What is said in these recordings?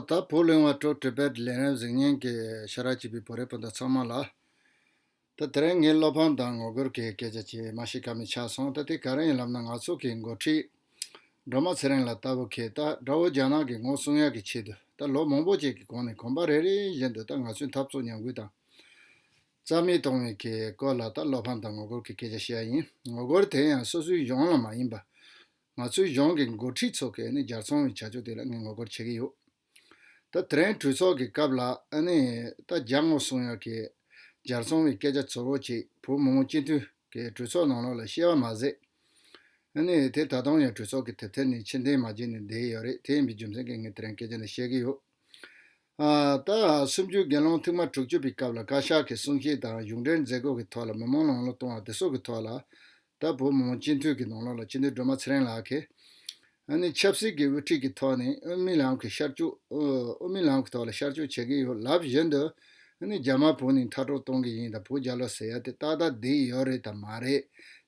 ད་བོ་གླེང་བ་ཀྲོ་ཀྲི་པད་ལེ་རན་གཟིགས་བརྙན་གྱི་ཤ་ར་བྱིས་པའི་བུ་རེད་པོ་འདི་ཚང་མ་ལ། ད་དེ་རིང་ངས་བློ་ཕམ་དང་ངོ་རྒོལ་གྱི་སྐད་ཆ་ཆེད་མ་ཞིག་ཁ་མི་ཆགས་སོང་ད་དེ་ག་རེ་ཡིན་ལབ་ན་ང་ཚོ་གི་མགོ་ཁྲིད། སྒྲོལ་མ་ཚེ་རིང་ལ་ལྟ་བུ་ཁྱེད་ད་དགྲ་བོ་རྒྱ་ནག་གི་ངོ་སྲུང་ཡག་གི་ཆེད་དུ་ད་ལོ་མང་པོ་བྱས་ཀྱི་གོང་ནས་གོམ་པ་རེ་རེ་བཞིན་དུ་ད་ང་ཚོའི་འཐབ་རྩོད་ཉམས་རྒུད་དང། རྩ་མེད་གཏོང་བའི་གི་སྐོར་ལ་ད་བློ་ཕམ་དང་ངོ་རྒོལ་གྱི་སྐད་ཆ་བཤད་ཡ་ཡིན་ངོ་རྒོལ་དེ་ཡང་སོ་སོའི་གཞུང་ལ་མ་ཡིན་པ། ང་ཚོའི་གཞུང་གི་མགོ་ཁྲིད་ཚོ་གས་ནི་རྒྱར་ཚོང་བའི་བྱ་སྤྱོད་དེ་ལ་ངས་ངོ་རྒོལ་བྱེད་ཀྱི་ཡོད། ད་ཐེ་རན་གྲོས་ཚོགས་ཀྱི་སྐབས་ལ་ནི་ད་རྒྱ་ངོ་སུང་ཡ་གས་རྒྱར་ཚོང་བའི་སྐད་ཆ་ཚོ་བོ་ཅིག་བོད་མི་མང་སྤྱི་མཐུན་གས་གྲོས་ཚོགས་ནང་ལོགས་ལ་བཤད་བ་མ་ཟད། ནི་དེ་ད་དུང་ཡང་གྲོས་ཚོགས་ཀྱི་དེབ་ཐེར་ནི་ཕྱིར་འཐེན་མ་བྱས་ནས་བསྡད་ཡོད་རེད་དེ་ཡིན་པའི་རྒྱུ་མཚན་གས་ངས་ཐེ་རན་སྐད་ཆ་འདི་བཤད་ཀྱི་ཡོད། ད་སུམ་བཅུའི་དགེ་སློང་ཐིག་མ་དྲུག་བཅུ་པའི་སྐབས་ལ་བཀའ་ཤག་གི་གསུང་བཤད་དང་གཞུང་འབྲེལ་མཛད་སྒོ་གི་ཐོག་ལ་མི་མང་ལ་ངོ་ལོག་གཏོང་བ་དེ་སོགས་ཀྱི་ཐོག་ལ། ད་བོད་མི་མང་སྤྱི་འཐུས་ཀྱི་ནང་ལོགས་ལ་སྤྱི་འཐུས་སྒྲོལ་མ་ཚེ་རིང་ལགས་ཀྱིས། ནི་ཆབ་སྲིད་ཀྱི་དབུ་ཁྲིད་ཀྱི་ཐོག་ནས་དབུ་མའི་ལམ་གྱི་ཤར་བསྐྱོད་དབུ་མའི་ལམ་གྱི་ཐོག་ལ་ཤར་བསྐྱོད་བྱེད་ཀྱི་ཡོད་ལབ་བཞིན་དུ། ནི་རྒྱ་དམར་བོད་ནས་མཐར་སྤྲོ་གཏོང་གི་ཡིན་དང་བོད་རྒྱ་ལོ་ཟེར་ཡ་དེ་ཏག་ཏག་བསྡད་ཡོད་རེད་དམ་མ་རེད་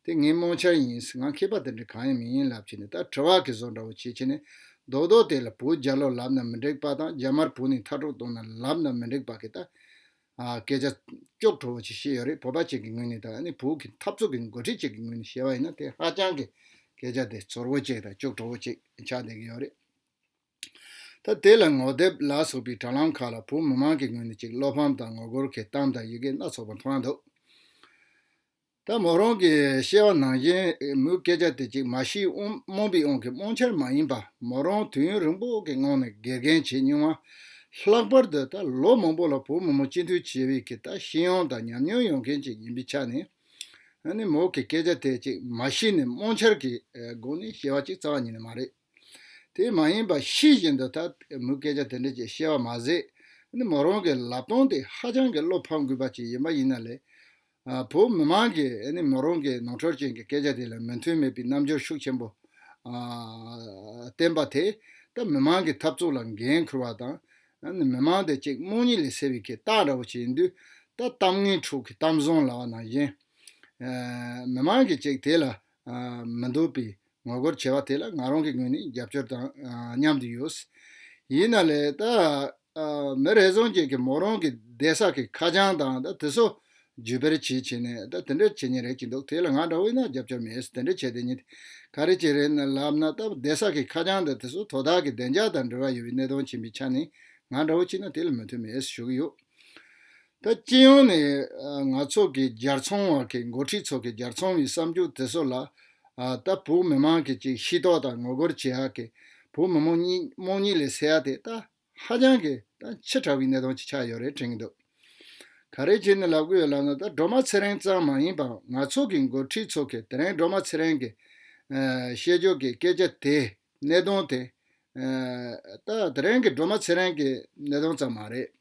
དེ་ངའི་རྨོངས་འཆར་ཡིན་ང་མཁས་པ་དེ་འདྲ་གང་ཡང་མིན་ཡིན་ལབ་ཀྱི་ནི་ད་དྲི་བ་གི་བཟོ་འདྲ་བོ་བྱེད་ཀྱི་ནི་མདོག་མདོག་དེ་ལ་བུ་རྒྱ་ལོ་ལབ་ན་མི་འགྲིག་པ་དང་རྒྱ་དམར་བུ་ནི་མཐར་གྲོགས་གཏོང་ན་ལབ་ན་མི་འགྲིག་པ་གི་ད་སྐད་ཆ་ལྕོག་ཁྲོ་བོ་ཆེ་བཤད་ཡོད་རེད་བོད་པ་གཅིག་གི་ངོས་ནས་དང་ནི་བོད་ཀྱི་འཐབ་རྩོད་ཀྱི་འགོ་ཁྲིད་གཅིག་གི་ངོས་ནས་བཤད་པ་ཡིན་ན་དེ་ཧ་ཅང་གི་སྐད་ཆ་དེ་ཚོར་བོ་ཅིག་དང་ལྕོག་ཁྲོ་བོ་ཅིག་ཆགས་བསྡད་ཀྱི་ཡོད་རེད། ད་དེ་ལ་ངོ་དེབ་ལ་སོགས་པའི་དྲ་ལམ་ཁག་ལ་བོད་མི་མང་གི་ངོས་ནས་ཅིག་བློ་ཕམ་དང་ངོ་རྒོལ་གྱི་གཏམ་དང་ཡི་གེ་སྣ་ཚོགས་པ་མཐོང་ཡ་འདུག། ད་མོ་རང་གི་ཤེས་བ་ནང་བཞིན་མོའི་སྐད་ཆ་དེ་ཅིག་མ་ཤི་རྨོངས་པའི་དབང་གིས་རྨོངས་འཆར་མ་ཡིན་པ་མོ་རང་དུས་ཡུན་རིང་པོ་གི་སྔོན་ནས་དགེ་རྒན་བྱས་མྱོང་བ་ལྷག་པར་དུ་ད་ལོ་མང་པོ་ལ་བུ་མོ་མོ་སྤྱི་འཐུས་བྱས་བས་ཀྱི་ད་ཤི་ཡོང་དང་ཉམས་མྱོང་ཡོང་མཁན་ཅིག་ཡིན་པའི་ཆ་ནས་ནི་མོ་གི་སྐད་ཆ་དེ་ཅིག་མ་ཤི་ནས་རྨོངས་འཆར་གྱི་སྒོ་ནས་ཤེས་བ་ཅིག་རྩ་བ་ཉིད་ནས་མ་རེད། དེ་མ་ཡིན་པ་ཤེས་བཞིན་དུ་ད་མུས་སྐད་ཆ་དེ་འདྲ་ཅིག་བཤད་པ་མ་ཟད། མོ་རང་གི་ལབ་སྟངས་དེ་ཧ་ཅང་གི་བློ་ཕམ་དགོས་པ་ཅིག་ཡིན་པ་ཡིན་ན་ལེགས། བོད་མི་མང་གིས་མོ་རང་གི་ནོར་འཁྲུལ་ཅན་གྱི་སྐད་ཆ་དེ་ལ་མོས་མཐུན་མེད་པའི་རྣམ་འགྱུར་ཤུགས་ཆེན་པོ་བསྟན་པ་དེས་ད་མི་མང་གི་འཐབ་རྩོད་ལ་འགན་ཁུར་བ་དང། མི་མང་དེ་ཅིག་རྨོངས་གཉིད་ལས་སད་པའི་ཁེ་བཏགས་འདྲ་བོ་ཅིག་ཡིན་དུས་ད་གཏམ་ངན་དྲུག་གི་གཏམ་བཟང་ལབ་པ་ནང་བཞིན། མི་མང་གིས་ཅིག་དེ་ལ་མི་འདུག་པས་ངོ་རྒོལ་བྱས་པ་དེ་ལ་ང་རང་གི་ངོས་ནས་རྒྱབ་སྐྱོར་དང་མཉམ་དུ་ཡོད། ཡིན་ན་ལེ་ད་མི་རེ་ཟུང་ཅིག་གིས་མོ་རང་གི་སྡེ་སྲ་གི་ཁ་བྱང་དང་དེ་ཚོ་བརྒྱུད་སྤེལ་བྱེད་བྱེད་ནས་དེ་འདྲ་བྱེད་ཉེན་རེག་གི་འདུག་དེ་ལ་ང་འདྲ་བོས་ན་རྒྱབ་སྐྱོར་མེད་དེ་འདྲ་བྱས་དེ་ཉིད་ག་རེ་ཅིག་རེད་ན་ལབ་ན་ད་སྡེ་སྲ་གི་ཁ་བྱང་དང་དེ་ཚོ་དོ་བདག་གི་བདེ་འཇགས་དང་འབྲེལ་བ་ཡོད་པའི་གནད་དོན་ཆེན་པོའི་ཆ་ནས་ང་འདྲ་བོ་གཅིག་ན་དེ་ལ་མོས་མཐུན་མེད་ཞུ་གི་ཡོད། ད་སྤྱི་ཡོངས་ནས་ང་ཚོ་གི་རྒྱལ་ཚོང་བ་གི་མགོ་ཁྲིད་ཚོ་གི་རྒྱལ་ཚོང་བའི་བསམ་རྒྱུ་དེ་ཚོ་ལ་ད་བོུ་མི་མང་གི་ཅིག་ཤི་ཏོག་དང་ངོ་རྒོལ་བྱེད་ཡག་གི་བོུ་མི་མོ་རྨོངས་གཉིད་ལས་སད་ཡག་དེ་ད་ཧ་ཅང་གི་ད་ཆེ་དྲག་བའི་གནད་དོན་ཅིག་ཆགས་ཡོད་རེད་དྲན་གི་འདུག་ག་རེ་བྱེད་ནི་ལབ་གི་ཡོད་ལབ་ན་ད་སྒྲོལ་མ་ཚེ་རིང་ཙང་མ་ཡིན་པའང་ང་ཚོ་གི་མགོ་ཁྲིད་ཚོ་གི་དེ་རིང་སྒྲོལ་མ་ཚེ་རིང་གི་བཤད་རྒྱུ་གི་སྐད་ཆ་དེ་གནད་དོན་དེ་ད་དེ་རིང་གི་སྒྲོལ་མ་ཚེ་རིང་གི་གནད་དོན་ཙམ་མ་རེད།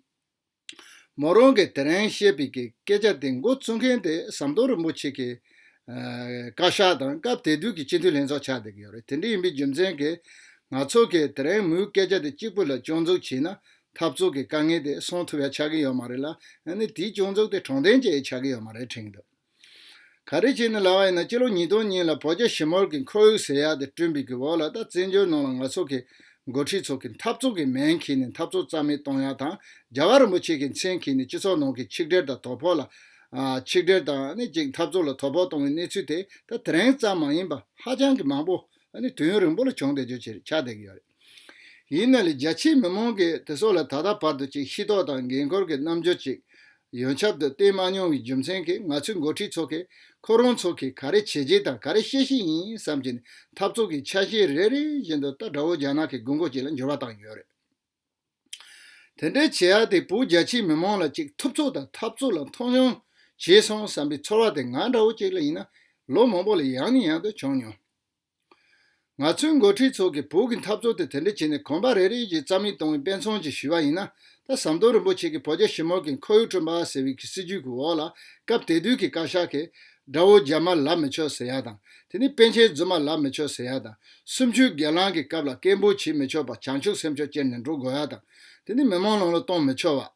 མོ་རང་གིས་དེ་རིང་བཤད་པའི་སྐད་ཆ་དེ་མགོ་བཙུགས་མཁན་དེ་ཟམ་གདོང་རིན་པོ་ཆེ་གི་བཀའ་ཤག་དང་སྐབས་དེ་དུས་ཀྱི་སྤྱི་འཐུས་ལྷན་ཚོགས་ཆགས་བསྡད་ཀྱི་ཡོད་རེད་དེ་འདྲ་ཡིན་པའི་རྒྱུ་མཚན་གྱིས་ང་ཚོ་གིས་དེ་རིང་མོའི་སྐད་ཆ་དེ་གཅིག་པུ་ལ་སྐྱོན་འཛུགས་བྱས་ན་འཐབ་རྩོད་ཀྱི་དཀའ་ངལ་དེ་སོང་ཐུབ་ཡ་ཆགས་ཀྱི་ཡོད་མ་རེད་ལ་ཡང་ན་དེའི་སྐྱོན་འཛུགས་དེ་དྲང་བདེན་ཅན་ཡང་ཆགས་ཀྱི་ཡོད་མ་རེད་དྲན་གྱི་འདུག། ག་རེ་བྱས་ནས་ལ་བ་ཡིན་ན་སྤྱི་ལོ་ཉིས་སྟོང་ཉིད་ལ་བོད་རྒྱ་ཞི་མོལ་གྱི་འཁོར་ཡུག་ཟེར་ཡག་དེ་བསྐྲུན་པའི་གི་འོག་ལ་ད་བཙན་བྱོལ་ནང་ལ་ང་ཚོ་གི་འགོ་ཁྲིད་ཚོ་གི་འཐབ་རྩོད་གི་མན་ཁྱེར་ནས་འཐབ་རྩོད་རྩ་མེད་གཏོང་ཡག་དང་རྒྱ་གར་རིན་པོ་ཆེ་གི་མཚན་ཁྱེར་ནས་སྤྱི་ཚོགས་ནང་གི་ཆིག་སྒྲིལ་དང་དོ་ཕོག་ལ་ཆིག་སྒྲིལ་དང་ཅིག་འཐབ་རྩོད་ལ་དོ་ཕོག་གཏོང་བའི་གནས་ཚུལ་དེ་ད་དེ་རིང་ཙམ་མ་ཡིན་པ་ཧ་ཅང་གི་མང་པོ་དུས་ཡུན་རིང་པོ་ལ་བྱུང་བསྡད་རྒྱུ་ཆགས་བསྡད་ཀྱི་ཡོད་རེད། ཡིན་ནའི་རྒྱ་ཆེའི་མི་མང་གིས་དེ་སོགས་ལ་ད་ལྟ་བར་དུ་ཅིག་ཤེས་རྟོགས་དང་འགན་ཁུར་གྱི་རྣམ་འགྱུར་ཅིག་ཡོན་ཆབ་ཏུ་བསྟན་མ་མྱོང་བའི་རྒྱུ་མཚན་གྱིས་ང་ཚོའི་འགོ་ཁྲིད་ཚོ་གིས་ཁོ་རང་ཚོ་གིས་ག་རེ་བྱེད་བྱེད་དང་ག་རེ་ཤེས་ཤེས་ཡིན་བསམ་གྱིན་འཐབ་རྩོད་ཀྱི་ཆ་ཤས་རེ་རེ་བཞིན་དུ་རྟ་དགྲ་བོ་རྒྱ་ནག་གི་དགོས་མཁོ་ཅིག་ལ་འགྱུར་བ་བཏང་ཡོད་རེད། དེ་འདྲའི་བྱེད་ཡག་དེ་བོད་རྒྱ་ཆེའི་མི་མང་ལ་ཅིག་ཐུབ་ཚོད་དང་འཐབ་རྩོད་ལ་མཐོང་ཆུང་བྱས་སོང་བསམ་པའི་ཚོར་བ་དེ་ང་འདྲ་བོ་ཅིག་ལ་ཡིན་ན་ལོ་མང་པོ་ལ་ཡང་ནས་ཡང་དུ་བྱུང་མྱོང། ང་ཚོའི་མགོ་ཁྲིད་ཚོ་གིས་བོད་ཀྱི་འཐབ་རྩོད་དེ་དེ་འདྲ་བྱས་ནས་གོམ་པ་རེ་རེ་བཞིན་རྩ་མེད་གཏོང་བའི་དཔེ་མཚོན་གྱིས་ཞུས་པ་ཡིན་ན། ད་ཟམ་གདོང་རིན་པོ་ཆེ་གིས་བོད་རྒྱ་ཞི་མོལ་གྱི་ཁོར་ཡུག་བསྐྲུན་པ་ཟེར་བའི་གི་སྲིད་ཇུས་ཀྱི་འོག་ལ་སྐབས་དེ་དུས་ཀྱི་བཀའ་ཤག་གིས། དགྲ་བོ་རྒྱ་དམར་ལབ་མི་ཆོག་ཟེར་ཡག་དང། དེ་ནས་པན་ཆེན་རྫུན་མ་ལབ་མི་ཆོག་ཟེར་ཡག་དང། སུམ་བཅུའི་སྒེར་ལངས་ཀྱི་སྐབས་ལ་སྐད་འབོད་བྱེད་མི་ཆོག་པར་བྱང་ཆུབ་སེམས་ཕྱོགས་ཅན་ནས་འགྲོ་དགོས་ཡག་དང། དེ་ནས་མི་མང་ལང་ལོ་གཏོང་མི་ཆོག་བ།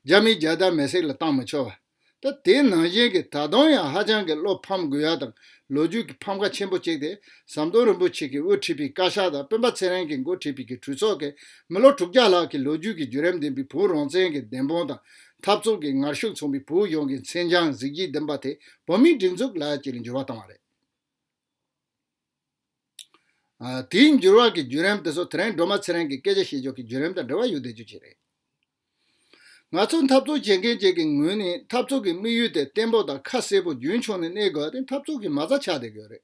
རྒྱ་མིའི་རྒྱལ་དར་མེ་སྲེག་ལ་བཏང་མི་ཆོག་བ། ད་དེའི་ནང་བཞིན་གྱི་ད་དུང་ཡང་ཧ་ཅང་གི་བློ་ཕམ་དགོས་ཡ་དང་ལོ་རྒྱུས་ཀྱི་ཕམ་ཁ་ཆེན་པོ་གཅིག་དེ་ཟམ་གདོང་རིན་པོ་ཆེ་གྱི་དབུ་ཁྲིད་པའི་བཀའ་ཤག་དང་སྤེན་པ་ཚེ་རིང་གི་འགོ་ཁྲིད་པའི་གི་གྲུ་ཚོགས་ཀྱིས་མི་ལོ་དྲུག་བརྒྱ་ལྷག་གི་ལོ་རྒྱུས་ཀྱི་བརྒྱུད་རིམ་ལྡན་པའི་བོད་རང་བཙན་གྱི་བདེན་དཔང་དང་འཐབ་རྩོད་ཀྱི་ངར་ཤུགས་མཚོན་པའི་བོད་གཞུང་གི་མཚན་བྱང་གཟི་བརྗིད་ལྡན་པ་དེ་བོད་མིའི་སྒྲིག་འཛུགས་ལག་ཁྱེར་འབྱོར་བ་བཏང་བ་རེད། དེའི་འགྱུར་བག་གི་བརྒྱུད་རིམ་དེ་ཚོ་དེ་རིང་སྒྲོལ་མ་ཚེ་རིང་གི་སྐད་ཆ་བཤད་ཕྱོགས་ཀྱི་བརྒྱུད་རིམ་དང་འབྲེལ་བ་ཡོད་བསྡད་རྒྱུ་ཅི་རེད། ང་ཚོ་འཐབ་རྩོད་བྱེད་མཁན་བཅས་ཀྱི་ངོས་ནས་འཐབ་རྩོད་ཀྱི་དམིགས་ཡུལ་དེ་བརྟན་པོ་དང་ཁ་གསལ་པོ་རྒྱུན་འཁྱོངས་ནས་གནས་དགོས་ཏེ་འཐབ་རྩོད་ཀྱི་མ་རྩ་ཆགས་བསྡད་ཡོད་རེད།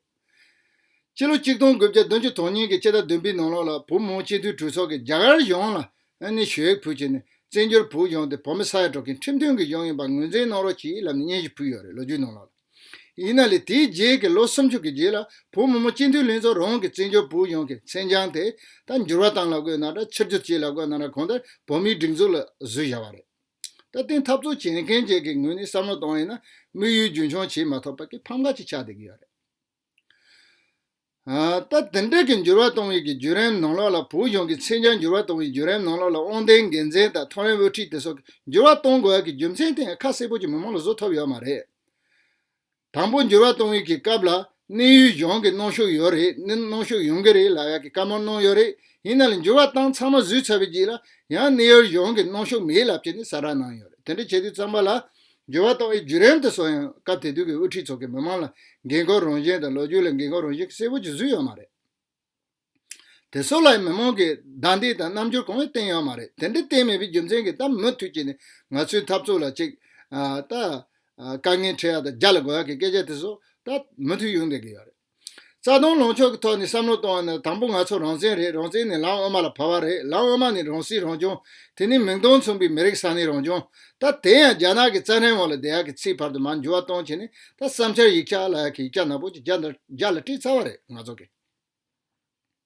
སྤྱི་ལོ་གཅིག་སྟོང་དགུ་བརྒྱ་བདུན་ཅུ་དོན་གཉིས་ཀྱི་ཕྱི་ཟླ་བདུན་པའི་ནང་ལོགས་ལ་བུ་མོ་སྤྱི་འཐུས་གྲོས་ཚོགས་ཀྱིས་རྒྱ་གར་གཞུང་ལ་ནས་ཞུ་ཡིག་ཕུལ་བྱས་ནས་བཙན་བྱོལ་བོད་གཞུང་དེ་བོད་མི་ས་ཡ་དྲུག་གི་ཁྲིམས་མཐུན་གྱི་གཞུང་ཡིན་པ་ངོས་འཛིན་གནང་རོགས་ཅེས་ལབ་ནས་སྙན་ཞུ་ཕུལ་ཡོད་རེད་ལོ་རྒྱུས་ནང་ལོགས་ལ། ཡིན་ན་ལས་དེའི་རྗེས་ཀྱི་ལོ་སུམ་ཅུ་གི་རྗེས་ལ་བོད་མི་མོ་སྤྱི་འཐུས་ལྷན་ཚོགས་རང་གི་བཙན་བྱོལ་བོད་ཡོངས་ཀྱི་མཚན་བྱང་དེ་ད་འགྱུར་བ་བཏང་ལ་བཀོད་གནང་དང་ཕྱིར་བསྒྱུར་བྱས་ལ་བཀོད་གནང་ན་གང་ལྟར་བོད་མིའི་སྒྲིག་འཛུགས་ལ་གཟུད་བཞག་པ་རེད། ད་ལྟའི་འཐབ་རྩོད་བྱེད་མཁན་བཅས་ཀྱི་ངོས་ནས་བསམ་བློ་བཏང་ཡིན་ན་དམིགས་ཡུལ་རྒྱུན་འཁྱོངས་བྱེད་མ་ཐུབ་པ་ཀྱི་ཕམ་ཁ་ཅིག་ཆགས་བསྡད་ཀྱི་ཡོད་རེད། སྟབས་དེ་འབྲེལ་གྱི་འགྱུར་བ་གཏོང་ཡུལ་གྱི་བརྒྱུད་རིམ་ནང་ལོགས་ལ་བོད་གཞུང་གི་མཚན་བྱང་འགྱུར་བ་གཏོང་ཡུལ་བརྒྱུད་རིམ་ནང་ལོགས་ལ་དབང་ལྡན་འགན་འཛིན་དང་ཐོ་རེངས་དབུ་ཁྲིད་དེ་སོགས་ཀྱི་འགྱུར་བ་གཏོང་དགོས་ཀྱི་རྒྱུ་མཚན་ཐད་ཁ་གསལ་པོ་ཅིག་མི་མང་ལ་བཟོ་ཐུབ་ཡོད་མ་རེད། དང་པོ་འགྱུར་བ་གཏོང་ཡུལ་གྱི་སྐབས་ལ་གནས་ཡུལ་གཞུང་གི་གནོན་ཤུགས་ཡོད་རེད་ནི་གནོན་ཤུགས་ཡོང་གི་རེད་ལ་ཡག་གི་བཀའ་མོལ་གནང་ཡོད་རེད་ཡིན་ན་ལ་འགྱུར་བ་བཏང་ཚང་མ་བཟོས་ཚར་བའི་རྗེས་ལ་ཡང་གནས་ཡུལ་གཞུང་གི་གནོན་ཤུགས་མེད་ལབ་ཅེས་ནས་གསལ་བསྒྲགས་གནང་ཡོད་རེད་དེ་འདྲ་བྱས་དུས་རྩམ་པ་ལ་འགྱུར་བ་གཏོང་བའི་བརྒྱུད་རིམ་དུ་སོང་ཡང་སྐབས་དེ་དུས་ཀྱི་དབུ་ཁྲིད་ཚོ་གི་མི་མང་ལ་འགན་ཁུར་རང་བཞིན་དང་ལོ་རྒྱུས་ལ་འགན་ཁུར་རང་བཞིན་གྱི་གསལ་བོ་ཅིག་བཟོས་ཡོད་མ་རེད། དེ་སོགས་ལ་ཡང་མི་མང་གིས་བདའ་འདེད་དང་རྣམ་འགྱུར་གང་ཡང་བསྟན་ཡོད་མ་རེད་དེ་འདྲ་བསྟན་མེད་པའི་རྒྱུ་མཚན་གྱིས་གཏམ་མུ་མཐུད་བྱས་ནས་ང་ཚོའི་འཐབ་རྩོད་ལ་ཅིག། ད། དཀའ་ངལ་འཕྲད་ཡག་དང་རྒྱ་ལ་གོ་ཡག་གི་སྐད་ཆ་དེ་སོགས་ད། མུ་མཐུད་ཡོང་བསྡད་ཀྱི་ཡོད་རེད། རྩ་སྟོང་ལོངས་ཕྱོགས་ཀྱི་ཐོག་ནས་བསམ་བློ་གཏོང་བ་ནི་དང་པོ་ང་ཚོ་རང་བཙན་རེད་རང་བཙན་ནི་ལམ་དབུ་མ་ལ་བབ་པ་རེད་ལམ་དབུ་མ་ནི་རང་སྲིད་རང་སྐྱོང་དེ་ནི་མིག་མདུང་མཚུངས་པའི་མི་རིགས་ས་གནས་རང་སྐྱོང་ད་དེ་ཡང་རྒྱ་ནག་གི་རྩ་ཁྲིམས་འོག་ལ་འདི་ཡག་གི་ཚིག་བར་དུ་མ་འགྱུར་བ་གཏོང་བྱེད་ནི་ད་བསམ་འཆར་ཡིག་ཆ་ལ་ཡག་གི་ཡིག་ཆ་ནག་པོ་ཅིག་རྒྱ་ལ་སྤྲད་ཚར་བ་རེད་ང་ཚོ་གི།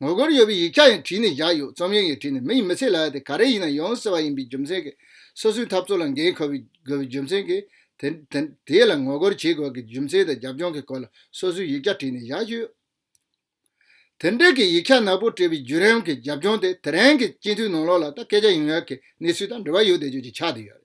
ངོ་རྒོལ་ཡོད་པའི་ཡིག་ཆ་ཡང་བྲིས་ནས་བཞག་ཡོད་རྩོམ་ཡོན་ཡང་བྲིས་ནས་མིང་མི་ཚིག་ལ་དེ་ག་རེ་ཡིན་ན་ཡོང་ཟེར་བ་ཡིན་པའི་རྒྱུ་མཚན་གྱིས་སོ་སོའི་འཐབ་རྩོད་ལ་འགན་འཁུར་བའི་དགོས་པའི་རྒྱུ་མཚན་གྱིས། དེ་ལ་ངོ་རྒོལ་བྱེད་དགོས་ཀྱི་རྒྱུ་མཚན་དང་རྒྱབ་ལྗོངས་ཀྱི་སྐོར་ལ་སོ་སོའི་ཡིག་ཆ་བྲིས་ནས་བཞག་ཡོད། དེ་འབྲེལ་གྱི་ཡིག་ཆ་ནག་པོ་བྲིས་པའི་བརྒྱུད་རིམ་གྱི་རྒྱབ་ལྗོངས་དེ་དེ་རིང་གི་སྤྱི་འཐུས་ནང་ལོགས་ལ་ད་སྐད་ཆ་ཡོང་ཡག་གི་གནས་ཚུལ་དང་འབྲེལ་བ་ཡོད་བསྡད་རྒྱུ་གཅིག་ཆགས་བསྡད་ཡོད་རེད།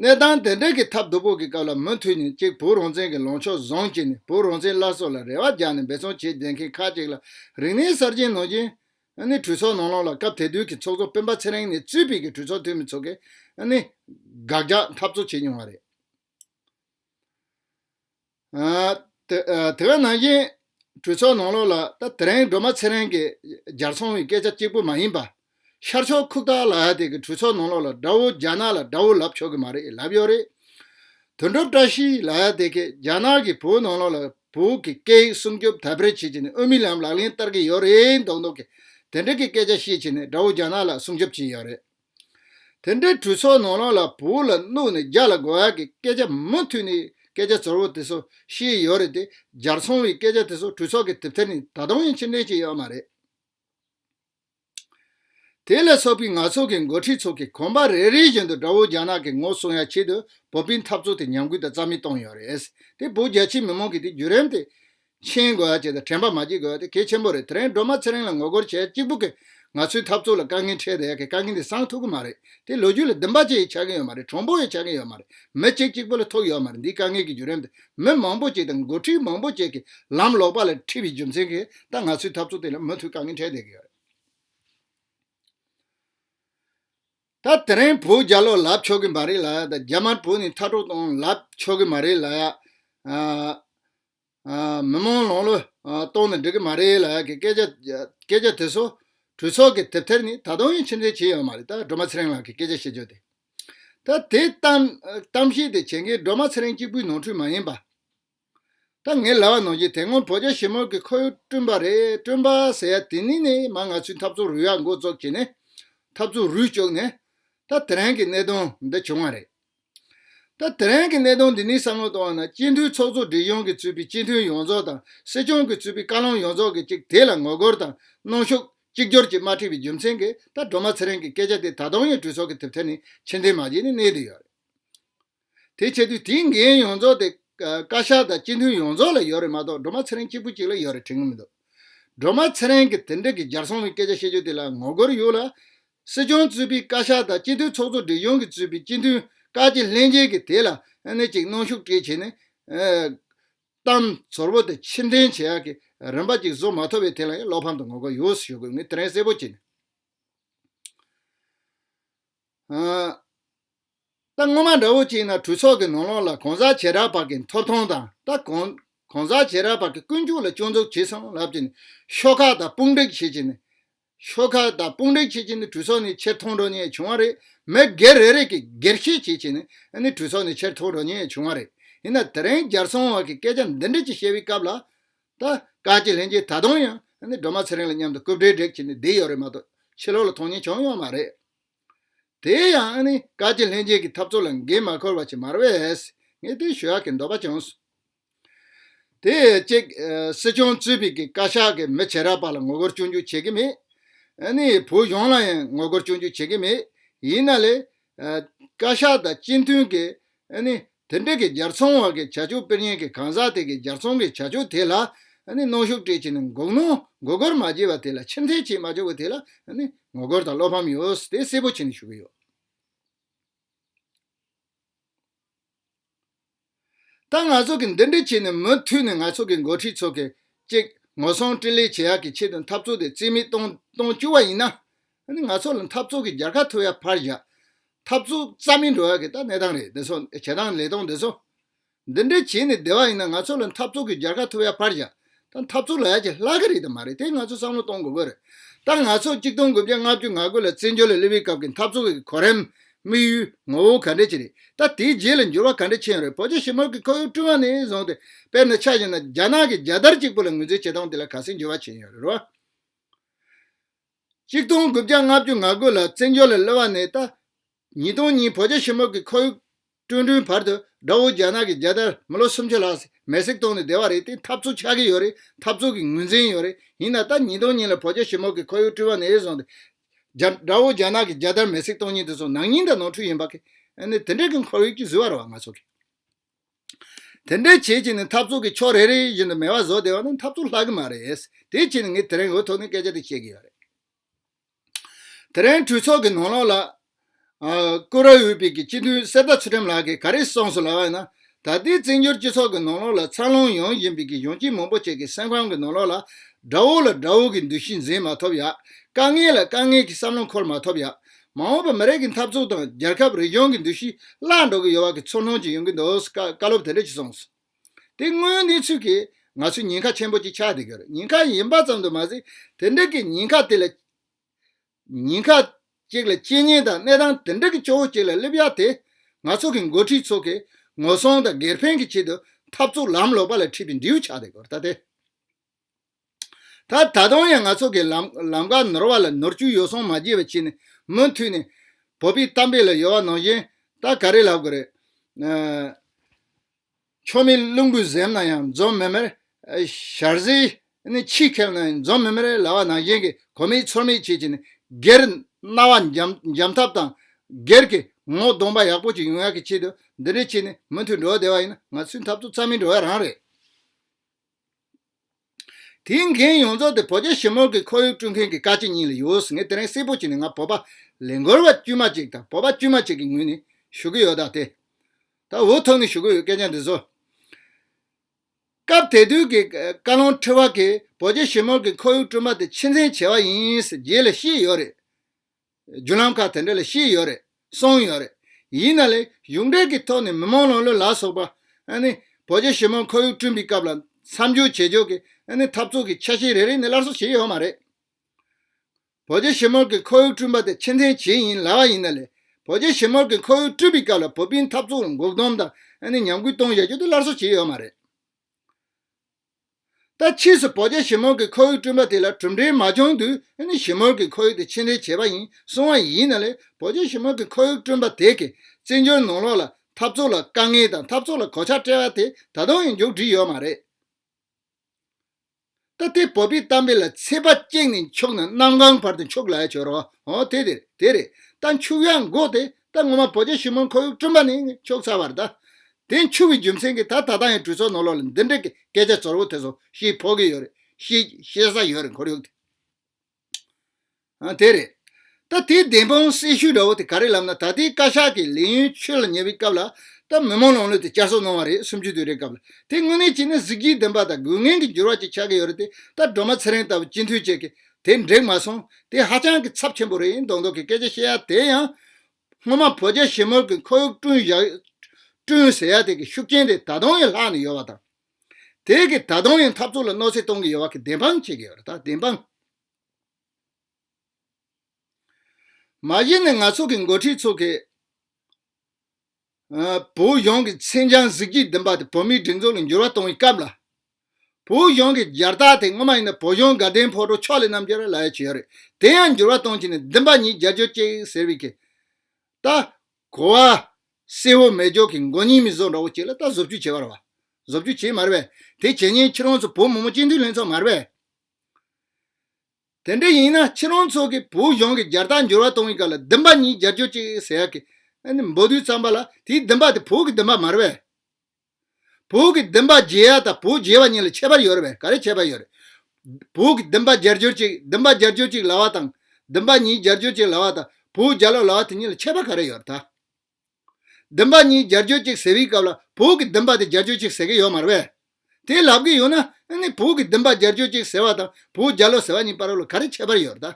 གནས་སྟངས་དེ་འདྲ་གི་ཐབས་རྡོ་ཕུག་གི་སྐབས་ལ་མུ་མཐུད་ནས་གཅིག་བུ་རོང་བཙན་གྱི་ལོངས་ཕྱོགས་བཟང་གཅིག་ནས་བུ་རོང་བཙན་སླར་གསོ་ལ་རེ་བ་རྒྱག་ནས་འབད་བརྩོན་བྱེད་བསྡད་མཁན་ཁག་གཅིག་ལ་རིག་གནས་གསར་རྗེན་ནོར་རྗེན། གྲོས་ཚོགས་ནང་ལོགས་ལ་སྐབས་དེ་དུས་ཀྱི་ཚོགས་གཙོ་སྤེན་པ་ཚེ་རིང་ནས་གཙོས་བོད་ཀྱི་གྲོས་ཚོགས་འཐུས་མི་ཚོ་གིས་དགག་རྒྱག་འཐབ་རྩོད་བྱེད་མྱོང་བ་རེད། དེ་ག་ནང་བཞིན་གྲོས་ཚོགས་ནང་ལོགས་ལ་ད་དེ་རིང་སྒྲོལ་མ་ཚེ་རིང་གིས་སྦྱར་སོང་བའི་སྐད་ཆ་གཅིག་པུ་མ་ཡིན་པ། ཤར་ཕྱོགས་ཁུག་རྟ་ལགས་དེ་གིས་གྲོས་ཚོགས་ནང་ལོགས་ལ་དགྲ་བོ་རྒྱ་ནག་ལ་དགྲ་བོ་ལབ་ཆོག་གི་མ་རེད་ལབ་ཡོད་རེད། དོན་གྲུབ་བཀྲ་ཤིས་ལགས་དེ་གིས་རྒྱ་ནག་གིས་བོད་ནང་ལོགས་ལ་བོད་ཀྱི་སྐད་ཡིག་སྲུང་སྐྱོབ་དལ་བེར་བྱེད་ཀྱི་ནས་དབུ་མའི་ལམ་ལག་ལེན་བསྟར་གྱི་ཡོད་རེད་མདོག་མདོག་གི་དེ་འདྲ་གི་སྐད་ཆ་བཤད་ཀྱི་ནས་དགྲ་བོ་རྒྱ་ནག་ལ་སྲུང་སྐྱོབ་བྱས་ཡོད་རེད། དེ་འདྲའི་གྲོས་ཚོགས་ནང་རང་ལ་བོད་ལ་བསྣུབས་ནས་རྒྱ་ལ་དགོས་བ་གི་སྐད་ཆ་མུ་མཐུད་ནས་སྐད་ཆ་ཚོར་བོ་དེ་ཚོ་བཤད་ཡོད་རེད་དེ་རྒྱར་ཚང་བའི་སྐད་ཆ་དེ་ཚོ་གྲོས་ཚོགས་གི་དེབ་ཐེར་ནས་ད་དུང་ཡང་ཕྱིར་འདྲེན་བྱས་ཡོད་མ་རེད། དེ་ལས་སོགས་པའི་ང་ཚོ་གི་མགོ་ཁྲིད་ཚོ་གི་གོམ་པ་རེ་རེ་བཞིན་དུ་དགྲ་བོ་རྒྱ་ནག་གི་ངོ་སྲུང་ཡ་ཆེད་དུ་བོད་པའི་འཐབ་རྩོད་དེ་ཉམས་རྒུད་དང་རྩ་མེད་བཏང་ཡོད་རེད། དེ་བོད་རྒྱ་ཆེའི་མི་མང་གི་དེ་བརྒྱུད་རིམ་དེ་མཆན་དགོས་ཨ་ཅེ་དང་དྲན་པ་མ་སྐྱེ་དགོས་ཨ་དེ་གལ་ཆེན་པོ་རེད་དེ་རིང་སྒྲོལ་མ་ཚེ་རིང་ལ་ངོ་རྒོལ་བྱས་གཅིག་པུ་གིས་ང་ཚོའི་འཐབ་རྩོད་ལ་དཀའ་ངལ་འཕྲད་དེ་ཡ་གི་དཀའ་ངལ་འདི་སངས་ཐུབ་ཀི་མ་རེད་དེ་ལོ་རྒྱུས་ལ་བདེན་པ་བཅས་ཡིས་ཆགས་གིན་ཡོད་མ་རེད་གྲོང་པོ་ཡིས་ཆགས་གིན་ཡོད་མ་རེད་མི་གཅིག་གཅིག་པུ་ལ་ཐུག་ཡོད་མ་རེད་འདིའི་དཀའ་ངལ་གྱི་བརྒྱུད་རིམ་དེ་མི་མང་པོ་གཅིག་དང་འགོ་ཁྲིད་མང་པོ་བཅས་ཀྱིས་ལམ་ལོག་པ་ལ་འཁྲིད་པའི་རྒྱུ་མཚན་གྱིས་ད་ང་ཚོའི་འཐབ་རྩོད་དེ་ལ་མུ་མཐུད་དཀའ་ངལ་འཕྲད་བསྡད་ཀྱི་ཡོད་རེད། ད་དེ་རིང་བོད་རྒྱ་ལོག་ལབ་ཆོག་གི་མ་རེད་ལ་ཡ་ད་རྒྱ་དམར་བོ་ནི་མཐའ་གྲོགས་དང་ལབ་ཆོག་གི་མ་རེད་ལ་ཡ། མི་མང་ལོང་ལོ་གཏོང་ནས་འགྲིག་གི་མ་རེད་ལ་གི་སྐད་ཆ་དེ་ཚོ་གྲོས་ཚོགས་ཀྱི་དེབ་ཐེར་ནི་ད་དུང་ཡང་ཕྱིར་འཐེན་བྱེད་ཡོད་མ་རེད་ད་སྒྲོལ་མ་ཚེ་རིང་ལགས་ཀྱི་སྐད་ཆ་བཤད་ཕྱོགས་དེ། ད་དེ་གཏམ་བཤད་དེ་བྱེད་མཁན་སྒྲོལ་མ་ཚེ་རིང་གཅིག་པུའི་ནོར་འཁྲུལ་མ་ཡིན་པ། ད་ངས་ལབ་པ་ནང་བཞིན་དེ་སྔོན་བོད་རྒྱ་ཞི་མོལ་གྱི་ཁོར་ཡུག་བསྐྲུན་པ་རེད་བསྐྲུན་པ་ཟེར་ཡ་དེ་ནི་ནི་མ་ང་ཚོའི་འཐབ་རྩོད་རུལ་བ་འགོ་བཙོག་བྱས་ནས་འཐབ་རྩོད་རུལ་བཅུག་ནས་ད་དེ་རིང་གི་གནད་དོན་འདི་བྱུང་བ་རེད། སྐབས་དེ་རིང་གི་གནད་དོན་འདི་ནི་བསམ་བློ་གཏོང་བ་ན་སྤྱི་མཐུན་ཚོགས་གཙོ་སྒྲིག་ཡོང་གི་ཚུད་པའི་སྤྱི་མཐུན་ཡོངས་རྫོགས་དང་སྲིད་སྐྱོང་གི་ཚུད་པའི་བཀའ་བློན་ཡོངས་རྫོགས་ཀྱི་གཅིག་དེ་ལ་ངོ་རྒོལ་དང་གནོན་ཤུགས་གཅིག་གྱུར་གྱིས་མ་ཁྲིད་པའི་རྒྱུ་མཚན་གྱིས་ད་སྒྲོལ་མ་ཚེ་རིང་གི་སྐད་ཆ་དེ་ད་དུང་ཡང་གྲོས་ཚོགས་ཀྱི་དེབ་ཐེར་ནས་ཕྱིར་འཐེན་མ་བྱས་ནས་གནས་དུ་ཡོད་རེད། དེ་བྱེད་དུས་དེའི་འགན་ཡོངས་རྫོགས་དེ་བཀའ་ཤག་དང་སྤྱི་མཐུན་ཡོངས་རྫོགས་ལ་ཡོད་རེད་མ་གཏོགས་སྒྲོལ་མ་ཚེ་རིང་གཅིག་པུ་གཅིག་ལ་ཡོད་རེད་དྲན་གྱི་མི་འདུག་སྒྲོལ་མ་ཚེ་རིང་གི་དེ་འབྲེལ་གྱི་སྦྱར་སོང་བའི་སྐད་ཆ་བཤད་རྒྱུ་དེ་ལ་ངོ་རྒོལ་ཡོད་ལ། སྲིད་སྐྱོང་གཙོས་པའི་བཀའ་ཤག་དང་སྤྱི་འཐུས་ཚོགས་གཙོ་སྒྲིག་ཡོངས་ཀྱི་གཙོས་པའི་སྤྱི་མཐུན་བཀའ་སྤྱི་ལྷན་རྒྱས་ཀྱིས་དེ་ལ་གནད་ཅིག་གནང་ཤུགས་སྤྲད་བྱས་ནས། གཏམ་ཟོར་བོ་དེ་ཕྱིར་འཐེན་བྱེད་ཡག་གི་རིམ་པ་ཅིག་བཟོ་མ་ཐུབ་པའི་ཐད་ལ་ཡང་བློ་ཕམ་དང་ངོ་རྒོལ་ཡོངས་སུ་ཞུ་དགོས་ངེས་དྲན་གསལ་པོ་བྱས་ནས། ད་སྔོན་མ་འདྲ་བོ་གཅིག་ན་གྲོས་ཚོགས་ཀྱི་ནང་ལོགས་ལ་གང་ཟག་བྱེ་བྲག་བར་གྱི་མཐོ་མཐོང་དང་ད་གང་ཟག་བྱེ་བྲག་བར་གྱི་ཀུན་སྤྱོད་ལ་སྐྱོན་འཛུགས་བྱས་སོང་ལབ་ཀྱི་ནི་ཤོག་ཁག་དང་དཔུང་བསྒྲིགས་བྱེད་ཀྱི་ནི་ཤོག་ཁག་དང་དཔུང་བསྒྲིགས་བྱེད་ཀྱི་ནི་གྲོས་ཚོགས་ནས་ཕྱིར་འཐོང་འགྲོ་ཉེས་བྱུང་བ་རེད་མི་སྒེར་རེ་རེ་གིས་སྒེར་བཤད་བྱེད་ཀྱི་ནི་གྲོས་ཚོགས་ནས་ཕྱིར་འཐོང་འགྲོ་ཉེས་བྱུང་བ་རེད་ཡིན་ན་དེ་རིང་རྒྱལ་བཙོང་བར་གྱི་སྐད་ཆ་འདི་འདྲི་ཅི་བྱེད་པའི་སྐབས་ལ་ད་བཀའ་སྤྱི་ལྷན་རྒྱས་ད་དུང་ཡང་སྒྲོལ་མ་ཚེ་རིང་ལ་མཉམ་དུ་རྐུབ་སྒྲིལ་སྒྲིག་བྱེད་ནས་བསྡད་ཡོད་རེད་མ་གཏོགས་ཕྱི་ལོགས་ལ་མཐོང་ཉེས་བྱུང་ཡོད་མ་རེད། དེ་ཡང་ནི་བཀའ་སྤྱི་ལྷན་རྒྱས་ཀྱི་འཐབ་རྩོད་ལ་འགན་མ་འཁུར་བ་ཆེས་མར་བས་ངས་དེ་ཞུ་ཡག་གི་འདོད་པ་བྱུང། དེ་གཅིག་སྲིད་སྐྱོང་གཙོས་པའི་གི་བཀའ་ཤག་གི་མི་བྱེ་རབས་པ་ལ་ངོ་རྒོལ་སྐྱོན་བརྗོད་བྱེད་ཀྱི་མེད། ནི་བོད་གཞུང་ལ་ཡང་ངོ་རྒོལ་སྐྱོན་བརྗོད་བྱེད་ཀྱི་མེད། ཡིན་ན་ལས་བཀའ་ཤག་དང་སྤྱི་མཐུན་གྱི་ནི་དེ་འབྲེལ་གྱི་སྦྱར་ཚོང་བར་གྱི་བྱ་སྤྱོད་དཔེར་ཉན་གྱི་གང་ཟག་དེ་གའི་སྦྱར་ཚོང་གི་བྱ་སྤྱོད་དེ་ལ་གནོན་ཤུགས་སྤྲད་ཕྱིན་ནས་འགོག་གནོན་འགོག་རྒོལ་མ་བྱས་པ་དེ་ལ་ཕྱིར་འཐེན་བྱེད་མ་བཅུག་པ་དེ་ལ་ངོ་རྒོལ་དང་བློ་ཕམ་ཡོད་དེ་གསལ་པོ་བྱས་ནས་ཞུ་གི་ཡོད། ད་ང་ཚོ་གིས་འདི་འདྲ་བྱས་ནས་མུ་མཐུད་ནས་ང་ཚོ་གི་འགོ་ཁྲིད་ཚོ་གཅིག་ངོ་སྲུང་སྤྲེལ་ལད་བྱེད་ཡག་གི་ཆེད་དུ་འཐབ་རྩོད་དེ་རྩིས་མེད་གཏོང་བཅུག་པ་ཡིན་ན། ད་ནི་ང་ཚོ་ལ་འཐབ་རྩོད་ཀྱི་རྒྱལ་ཁ་ཐོབ་ཡ་ཕར་བཞག་འཐབ་རྩོད་རྩ་མེད་འགྲོ་ཡ་གི་ད་གནས་སྟངས་རེད་འདི་ཚོ་བྱེད་སྟངས་ལས་སྟངས་འདི་ཚོ། འདི་འདྲའི་བྱས་ནས་བསྡད་པ་ཡིན་ན་ང་ཚོ་ལ་འཐབ་རྩོད་ཀྱི་རྒྱལ་ཁ་ཐོབ་ཡ་ཕར་བཞག་ད་འཐབ་རྩོད་ལ་ཡ་གྱི་ལྷག་གི་རེད་དམ་མ་རེད་དེ་ང་ཚོ་བསམ་བློ་གཏོང་དགོས་པ་རེད། ད་ང་ཚོ་གཅིག་སྟོང་དགུ་བརྒྱ་ལྔ་བཅུ་ང་དགུ་ལ་བཙན་བྱོལ་ལ་སླེབས་པའི་སྐབས་ཀྱི་འཐབ་རྩོད་ཀྱི་གོ་རིམ། དམིགས་ཡུལ། ངོ་བོ་ག་འདྲ་ཅི་རེད་ད་དེའི་རྗེས་ལ་འགྱུར་བ་ག་འདྲ་ཕྱིན་ཡོད་རེད་བོད་རྒྱ་ཞི་མོལ་གྱི་ཁོར་ཡུག་བསྐྲུན་བ་ནས་བཟུང་སྟེ་དཔེར་ན་ཆ་བཞག་ན་རྒྱ་ནག་གི་རྒྱལ་དར་གཅིག་པུ་ལ་ངོས་འཛིན་བྱེད་སྟངས་དེ་ལ་ག་སེང་འགྱུར་བ་ཕྱིན་ཡོད་རེད་རོ། གཅིག་སྟོང་དགུ་བརྒྱ་ལྔ་བཅུ་ང་དགུ་ལ་བཙན་བྱོལ་ལ་གློད་བ་ནས་ད་ཉིས་སྟོང་གཉིས་བོད་རྒྱ་ཞི་མོལ་གྱི་ཁོར་ཡུག་སྐྲུན་བསྐྲུན་བར་དུ་དགྲ་བོ་རྒྱ་ནག་གི་རྒྱལ་དར་མི་ལོ་སུམ་ཅུ་ལྷག་སྲིད་མེད་སྲེག་གཏོང་ནས་བསྡད་བ་རེད་དེ་འཐབ་རྩོད་ཆགས་ཀྱི་ཡོད་རེད་འཐབ་རྩོད་ཀྱི་ངོས་འཛིན་ཡོད་རེད་ཡིན་ན་ད་ཉིས་སྟོང་གཉིས་ལ་བོད་རྒྱ་ཞི་མོལ་གྱི་ཁོར་ཡུག་བསྐྲུན་བ་ནས་བཟུང་སྟེ་དགྲ་བོ་རྒྱ་ནག་གི་རྒྱལ་དར་མེ་སྲེག་གཏོང་ཉིན་དེ་ཚོ་ནང་སྙིང་དང་ནོར་འཁྲུལ་ཡིན་པ་གིས་ནི་དེ་འདྲའི་གི་ཁོར་ཡུག་ཅིག་བཟོས་བ་རེད་བ་ང་ཚོ་གིས། དེ་འདྲའི་བྱེད་ཀྱིས་ནི་འཐབ་རྩོད་ཀྱི་ཕྱོགས་རེ་རེ་བཞིན་དུ་མེ་བ་བཟོ་བདེ་བ་ནི་འཐབ་རྩོད་ལྷག་གི་མ་རེད། དེའི་ཕྱིར་ངས་དེ་རིང་འོས་ཐོག་ནས་སྐད་ཆ་དེ་བཤད་ཀྱི་ཡོད་རེད། དེ་རིང་གྲོས་ཚོགས་ཀྱི་ནང་ལོགས་ལ། ཀུ་རེ་འོས་པའི་སྤྱི་འཐུས་གསེར་རྟ་ཚུལ་ཁྲིམས་ལགས་ཀྱིས་ག་རེ་གསུངས་སོང་ལབ་པ་ཡིན་ན། ད་ལྟའི་བཙན་བྱོལ་སྤྱི་ཚོགས་ཀྱི་ནང་ལོགས་ལ་འཚར་ལོངས་ཡོང་བཞིན་པའི་གཞོན་སྐྱེས་མང་པོ་ཞིག་གི་སེམས་ཁམས་ཀྱི་ནང་ལོགས་ལ། དགྲ་བོ་ལ་དགྲ་བོ་གི་འདུ་ཤེས་འཛིན་མ་ཐུབ་ཡ། དཀའ་ངལ་ལ་དཀའ་ངལ་གྱི་བསམ་བློ་འཁོར་མ་ཐུབ་ཡ། མ་འོངས་པར་མི་རིགས་ཀྱི་འཐབ་རྩོད་དང་རྒྱལ་ཁབ་རིག་གཞུང་གི་འདུ་ཤེས་བརླག་འགྲོ་གི་ཡོད་བ་གི་ཚུར་སྣང་ཅིག་ཡོང་གི་འདུག་བཀའ་སློབ་དེ་འདྲ་ཞིག་གསུངས་སོང། དེ་དངོས་གནས་ཚུལ་གྱིས་ང་ཚོས་ཉེན་ཁ་ཆེན་པོ་ཅིག་ཆགས་བསྡད་ཀྱི་རེད་ཉེན་ཁ་ཡིན་པ་ཙམ་དུ་མ་ཟད་དེ་འདྲ་གི་ཉེན་ཁ་དེ་ལ། ཉེན་ཁ་ཅིག་ལ་དཔྱད་ཉན་དང་གནས་སྟངས་དེ་འདྲ་གི་སྐྱོ་བོ་ཅིག་ལ་སླེབས་ཡག་དེ། ང་ཚོ་གི་འགོ་ཁྲིད་ཚོ་གིས་ངོ་སྲུང་དང་སྒེར་ཕན་གྱི་ཆེད་དུ་འཐབ་རྩོད་ལམ་ལོག་པ་ལ་ཁྲིད་པའི་འབྲས་བུ་ཆགས་བསྡད་ཀྱི་རེད་ད་ལྟའི་ད་ད་དུང་ཡང་ང་ཚོ་གི་ལམ་ཀ་ནོར་བ་ལ་ནོར་བཅུད་ཡོ་སྲང་མ་རྒྱས་པ་བྱས་ནས་མུ་མཐུད་ནས་བོད་པའི་གཏམ་དཔེ་ལ་ཡོ་བ་ནང་བཞིན་ད་ག་རེ་ལབ་དགོས་རེད། མཆོག་མི་རླུང་བུས་གཟེམ་ན་ཡང་འཛོམས་མེད་མེར། ཞར་ཟས་ནི་ཕྱིས་ཁེབས་ན་ཡང་འཛོམས་མེད་མེར་ལབ་བ་ནང་བཞིན་གྱི་གོ་མེད་ཚོར་མེད་བྱེད་ཀྱིན་སྒེར་རྣ་བ་འཇམ་ཐབས་དང་སྒེར་གྱི་ངོ་གདོང་པ་ཡག་པོ་ཅིག་ཡོང་ཡག་གི་ཆེད་དུ་འདི་འདྲའི་བྱས་ནས་མུ་མཐུད་འགྲོ་བ་བདེ་བ་ཡིན་ན་ང་ཚོའི་འཐབ་རྩོད་རྩ་མེད་འགྲོ་བའི་རང་རེད། དེའི་མཁན་ཡོངས་རྫོགས་དེ་བོད་རྒྱ་ཞི་མོལ་གྱི་ཁོར་ཡུག་སྐྲུན་མཁན་གྱི་བཀའ་སྤྱི་གཉིས་ལ་ཡོད་ཟེར་ངས་དེ་རིང་གསལ་པོ་བྱས་ནས་ང་བོད་པ་ལས་མགོར་བ་དཀྱུས་མ་ཅིག་དང་བོད་པ་དཀྱུས་མ་ཅིག་གི་ངོས་ནས་ཞུ་གི་ཡོད་ད་དེ་ད་འུ་ཐུག་ནས་ཞུ་གི་ཡོད་སྐད་ཆ་འདི་ཚོ། སྐབས་དེ་དུས་ཀྱི་བཀའ་བློན་ཁྲི་བ་གིས་བོད་རྒྱ་ཞི་མོལ་གྱི་ཁོར་ཡུག་བསྐྲུན་པ་དེ་ཕྱི་མཚན་བྱས་བ་ཡིན་ཟེར་རྗེས་ལ་ཤེས་ཡོད་རེད། རྒྱུ་ལམ་ཁག་དེ་འདྲ་ལས་ཤེས་ཡོད་རེད་གསུངས་ཡོད་རེད། ཡིན་ན་ལས་གཞུང་འབྲེལ་གྱི་ཐོག་ནས་མི་མང་ལོག་ལོས་ལ་སོགས་པ། བོད་རྒྱ་ཞི་མོལ་ཁོར་ཡུག་བསྐྲུན་པའི་སྐབས་ལ་མཚམས་འཇོག་བྱེད་ཕྱོགས་ཀྱི་འཐབ་རྩོད་ཀྱི་ཆ་ཤས་རེ་རེ་ནས་སླར་གསོ་བྱས་ཡོད་མ་རེད། བོད་རྒྱ་ཞི་མོལ་གྱི་ཁོར་ཡུག་བསྐྲུན་པ་དེ་ཕྱི་མཚན་བྱེད་ཡིན་ལ་བ་ཡིན་ན་ལས་བོད་རྒྱ་ཞི་མོལ་གྱི་ཁོར་ཡུག་བསྐྲུན་པའི་སྐབས་ལ་བོད་པའི་འཐབ་རྩོད་ལ་འགོག་སྡོམ་དང་ཉམས་རྒུད་གཏོང་བཞག་རྒྱུ་དེ་སླར་གསོ་བྱས་ཡོད་མ་རེད། ད་ཕྱིས་སུ་བོད་རྒྱ་ཞི་མོལ་གྱི་ཁོར་ཡུག་བསྐྲུན་པ་དེ་ལ་གྲུབ་འབྲས་མ་བྱུང་དུས་ཞི་མོལ་གྱི་ཁོར་ཡུག་དེ་ཕྱི་འབྲེལ་བྱས་པ་ཡིན་གསུང་བ་ཡིན་ན་ལས་བོད་རྒྱ་ཞི་མོལ་གྱི་ཁོར་ཡུག་བསྐྲུན་པ་དེ་གའི་བཙན་བྱོལ་ནང་ལོགས་ལ་འཐབ་རྩོད་ལ་དཀའ་ངལ་དང་འཐབ་རྩོད་ལ་གོད་ཆག་སྤྲད་པ་དེ་ད་དུང་ཡང་མཇུག་བསྒྲིལ་ཡོད་མ་རེད། ད་དེ་བོད་པའི་གཏམ་དཔེ་ལ་ཚད་པ་བཅིངས་ནས་འཁྱུག་ན་གནམ་གང་བར་དུ་འཁྱུག་ལ་ཡ་བྱོས་རོགས་དེ་རེད། ད་འཁྱུག་ཡ་འགོག་དེ་སྐབས་སྔོན་མ་བོད་རྒྱལ་ཞུས་མོན་ཁོ་དབྱུག་སྤྲིན་པ་ནི་ཕྱོགས་ཚ་བར་གདའ། དེ་འཕྱུར་བའི་རྒྱུ་མཚན་གྱིས་ད་ད་ལྟ་ཡང་གྲོས་ཚོགས་ནང་ལོག་ལ་འདི་འདྲའི་སྐད་ཆ་ཙོར་བོ་དེ་ཚོ་ཤེས་ཕོག་གི་ཡོད་རེད། ཤེས་ས་ཡོད་རེད་འཁོར་ཡུག་དེ། ཨང་དེ་རེད། ད་དེའི་བདེན་དཔང་གསལ་ཤོས་འདྲ་བོ་དེ་ག་རེད་ལབ་ན་ད་ལྟའི་བཀའ་ཤག་གིས་ལས་ཡུན་ཆོད་ལ་ཉེ་བའི་སྐབས་ལ་ད་མི་མང་ལོག་ལོས་དེ་བསྐྱར་གསོ་གནང་བ་རེད་སུམ་ཅུ་དུས་རེའི་སྐབས་ལ་དེ་དངོས་གནས་བྱས་ན་གཟི་བརྗིད་ལྡན་པ་དང་དགོས་ངན་གྱི་འགྱུར་བ་ཅིག་ཆགས་ཀྱི་ཡོད་རེད་དེ་ད་སྒྲོལ་མ་ཚེ་རིང་ལྟ་བུ་སྤྱི་འཐུས་བཅས་ཀྱིས་དེ་འགྲིག་མ་སོང་དེ་ཧ་ཅང་གི་ཚབས་ཆེན་པོ་རེད་ཡིན་མདོག་མདོག་གི་སྐད་ཆ་བཤད་ཡ་དེ་ཡང། སྔོན་མ་བོད་རྒྱ་ཞི་མོལ་གི་འཁོར་ཡུག་བསྐྲུན་བཞག་བསྐྲུན་ཟེར་ཡ་དེ་གི་ཤུགས་རྐྱེན་དེ་ད་དུང་ཡང་ལྷག་ནས་ཡོད་བ་དང། དེ་གི་ད་དུང་ཡང་འཐབ་རྩོད་ལ་གནོད་འཚེ་གཏོང་གི་ཡོད་བ་གི་བདེན་དཔང་བྱེད་ཀྱི་ཡོད་རེད་ད་བདེན་དཔང། མ་གཞི་ནས་ང་ཚོ་གི་འགོ་ཁྲིད་ཚོ་གི། བོད་གཞུང་གི་མཚན་བྱང་གཟི་བརྗིད་ལྡན་པ་དེ་བོད་མིའི་སྒྲིག་འཛུགས་ལ་འགྱུར་བ་གཏོང་བའི་སྐབས་ལ། བོད་གཞུང་གི་རྒྱལ་རྟགས་དེ་སྔོན་མ་ཡིན་ན་བོད་གཞུང་དགའ་ལྡན་ཕོ་བྲོ་ཕྱོགས་ལས་རྣམས་ཀྱིས་ལ་ཡ་བྱས་ཡོད་རེད་དེ་ཡང་འགྱུར་བ་གཏོང་ཆེད་ནས་བདུན་པ་ཉིད་རྒྱལ་ཇོ་ཅེག་ཟེར་བའི་གིས་ད་གོ་བ། སེ་ཧོ་མེ་ཇོ་གིས་མགོ་རྙིང་མི་བཟོ་འདྲ་བོ་ཅིག་ལ་ད་བཟོ་བཅོས་བྱས་པར་བ། བཟོ་བཅོས་བྱས་མར་བས་དེ་བྱས་ཉེན་ཁྱེད་རང་ཚོ་བོད་མང་པོ་སྤྱི་འཐུས་ལྷན་ཚོགས་མར་བས། དེ་འདྲ་ཡིན་ན་ཁྱེད་རང་ཚོ་གིས་བོད་གཞུང་གི་སྦྱར་རྟགས་འགྱུར་བ་གཏོང་བའི་སྐབས་ལ་བདུན་པ་གཉིས་སྦྱར་བཅོས་གཅིག་ཟེར་ཡག་གི། འབོ་བདུད་ཙམ་པ་ལ་དེའི་བདུན་པ་དེ་བོད་ཀྱི་བདུན་པ་མ་རེད་བས། བོད་ཀྱི་བདུན་པ་རྒྱལ་ཡག་དང་བོད་རྒྱལ་བ་གཉིས་ལ་ཁྱད་པར་ཡོད་རེད་བས་ག་རེ་ཁྱད་པར་ཡོད་རེད། བོད་ཀྱི་བདུན་པ་སྦྱར་བཅོས་གཅིག་བདུན་པ་སྦྱར་བཅོས་གཅིག་ལ་བ་དང། བདུན་པ་གཉིས་སྦྱར་བཅོས་གཅིག་ལ་བ་དང་བོད་རྒྱལ་ལོ་ལ་བ་དེ་གཉིས་ལ་ཁྱད་པར་ག་རེ་ཡོད་རེད་ད། བདུན་པ་གཉིས་སྦྱར་བྱོས་ཅིག་ཟེར་བའི་སྐབས་ལ་བོད་ཀྱི་བདུན་པ་དེ་སྦྱར་བྱོས་ཅིག་ཟེར་གྱི་ཡོད་མ་རེད་བས། དེ་ལབ་གི་ཡོད་ན་ནི་བོད་ཀྱི་བདུན་པ་སྦྱར་བྱོས་ཅིག་ཟེར་བ་དང་བོད་རྒྱ་ལོ་ཟེར་བ་གཉིས་པར་ལ་ག་རེ་ཁྱད་པར་ཡོད་རེད་དམ།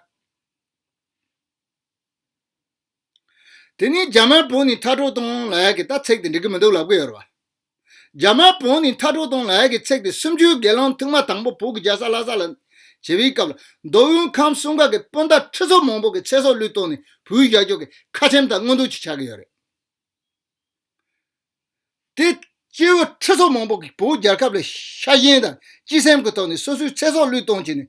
དེ་ནས་རྒྱ་དམར་བོ་ནི་མཐར་གྲོགས་སྟོང་ལགས་ཀྱིས་ད་ཚེགས་དེ་འགྲིག་གི་མི་འདུག་ལབ་གི་ཡོད་རེད་བ། རྒྱ་དམར་བོ་ནི་མཐའ་དྲུག་སྟོང་ལ་ཡ་གི་ཚེག་སྟེ་སུམ་ཅུའི་དགེ་སློང་ཐུགས་མ་དང་པོ་བོ་གི་རྒྱ་ས་ལྷ་ས་ལ་བྱེ་བའི་སྐབས་ལ་མདོ་དབུས་ཁམས་གསུམ་ཁག་གི་སྤུན་ཟླ་ཁྲི་ཚོ་མང་པོ་གི་ཚེ་སྲོག་བློས་གཏོང་ནས་བོད་རྒྱ་ཕྱོགས་ཀྱི་ཁ་ཆེམས་དང་དངུལ་འདུག་ཅིག་ཆགས་ཀྱི་ཡོད་རེད་དེ། སྐྱེ་བོ་ཁྲི་ཚོ་མང་པོ་གི་བོད་རྒྱལ་ཁབ་ལ་ཤ་ཞེན་དང་སྤྱི་སེམས་ཀྱི་ཐོག་ནས་སོ་སོའི་ཚེ་སྲོག་བློས་གཏོང་བྱས་ནས་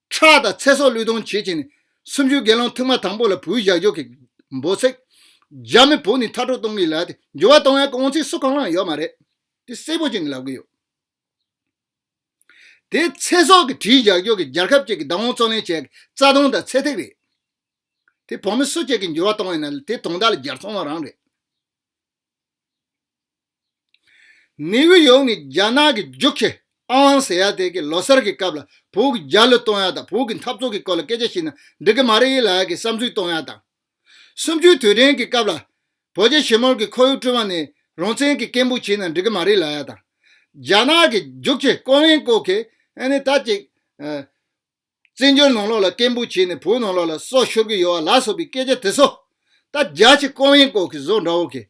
ཁྲག་དང་ཚེ་སྲོག་བློས་གཏོང་བྱེད་ཅིང། སུམ་ཅུའི་དགེ་སློང་ཐུགས་མ་དང་པོ་ལ་བུ་བཞག་འཇོག་གི། འབོ་ཚིག། རྒྱ་མི་བོ་ནི་མཐའ་དྲུག་སྟོང་གི་ལ། འགྱུར་བ་གཏོང་ཡང་གོང་ཚིག་སུ་གང་ལའང་ཡོད་མ་རེད། དེ་སེར་པོ་ཅན་གྱི་ལབ་གི་ཡོད། དེ་ཚེ་སྲོག་གི་གྲིའི་བཞག་འཇོག་གི་རྒྱར་ཁབ་ཅིག་གི་བདག་དབང་རྩོད་ལེན་བྱས་ཀྱི་རྩ་ལྟུང་དང་ཚད་ཐིག་རེད། དེ་བོ་མི་སུ་གཅིག་གིས་འགྱུར་བ་གཏོང་ཡང་ན་དེ་དོང་དག་ལ་རྒྱར་ཚོང་བ་རང་རེད། ནེའུ་ཡོག་ནི་རྒྱ་ནག་གི་ཇུག་ཁེ་ཨང་ཟེར་ཡ་དེ་གའི་ལོ་སར་གྱི་སྐབས་ལ་བོད་ཀྱི་རྒྱ་ལོ་གཏོང་ཡ་དང་བོད་ཀྱི་འཐབ་རྩོད་ཀྱི་སྐོར་ལ་སྐད་ཆ་བཤད་ན་འགྲིག་གི་མ་རེད་ཡིན་ལགས་ཀྱི་བསམ་ཚུལ་གཏོང་ཡ་དང། སུམ་ཅུའི་དུས་དྲན་གྱི་སྐབས་ལ་བོད་རྒྱ་ཞི་མོལ་གྱི་ཁོར་ཡུག་བསྐྲུན་བ་ནས་རང་བཙན་གྱི་སྐད་འབོད་བྱས་ན་འགྲིག་གི་མ་རེད་ལགས་ཡ་དང། རྒྱ་ནག་གི་ཇུག་ཁེ་ཀོ་ལན་ཀོ་ཁེ་ཨན་ནི་ད་ཅིག། བཙན་བྱོལ་ནང་ལོག་ལ་སྐད་འབོད་བྱས་ནས་བོད་ནང་ལོག་ལ་སྲོག་ཤོར་གྱི་ཡོད་བ་ལགས་སོགས་པའི་སྐད་ཆ་དེ་ཚོ། ད་རྒྱ་ཆེ་ཀོང་ཡེ་ཀོག་གི་བཟོ་འདྲ་བོ་གིས།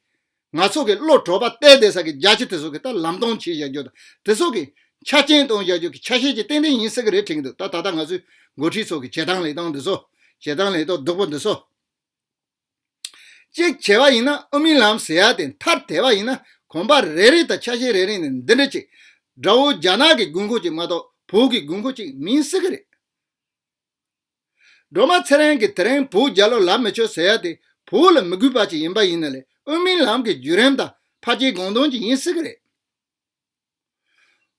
ང་ཚོ་གི་བློ་གྲོས་པ་གཏད་བསྡད་ས་གི་རྒྱ་ཆེ་དེ་ཚོ་གིས་ད་ལམ་སྟོང་ཆེ་བཞག་རྒྱུ་དང་དེ་ཚོ་གིས། ཆ་རྐྱེན་གཏོང་བཞག་རྒྱུ་གི་ཆ་ཤས་ཀྱི་ཏན་ཏན་ཡིན་ས་གི་རེད་དྲན་གྱི་འདུག་ད་ད་ལྟ་ང་ཚོའི་འགོ་ཁྲིད་ཚོ་གི་བྱེད་སྟངས་ལེགས་སྟངས་འདི་ཚོ། བྱེད་སྟངས་ལེགས་སྟོགས་སྡུག་པོ་འདི་ཚོ། ཅིག་བྱས་པ་ཡིན་ན་དབུ་མའི་ལམ་ཟེར་ཡ་དེ་མཐར་དེད་པ་ཡིན་ན་གོམ་པ་རེ་རེ་དང་ཆ་ཤས་རེ་རེ་ནས་འདི་འདྲ་ཅིག་དགྲ་བོ་རྒྱ་ནག་གི་དགོས་མཁོ་ཅིག་མ་གཏོགས་བོད་ཀྱི་དགོས་མཁོ་ཅིག་མིན་སྲིད་གི་རེད། སྒྲོལ་མ་ཚེ་རིང་གིས་དེ་རིང་བོད་རྒྱ་ལོ་ལབ་མི་ཆོག་ཟེར་ཡ་དེ་བོད་ལ་མི་དགོས་པ་ཅིག་ཡིན་པ་ཡིན་ན་ལས་དབུ་མའི་ལམ་གྱི་བརྒྱུད་རིམ་དང་ཕ་སྐྱེས་དགོངས་དོན་ཅིག་ཡིན་སྲིད་གི་རེད།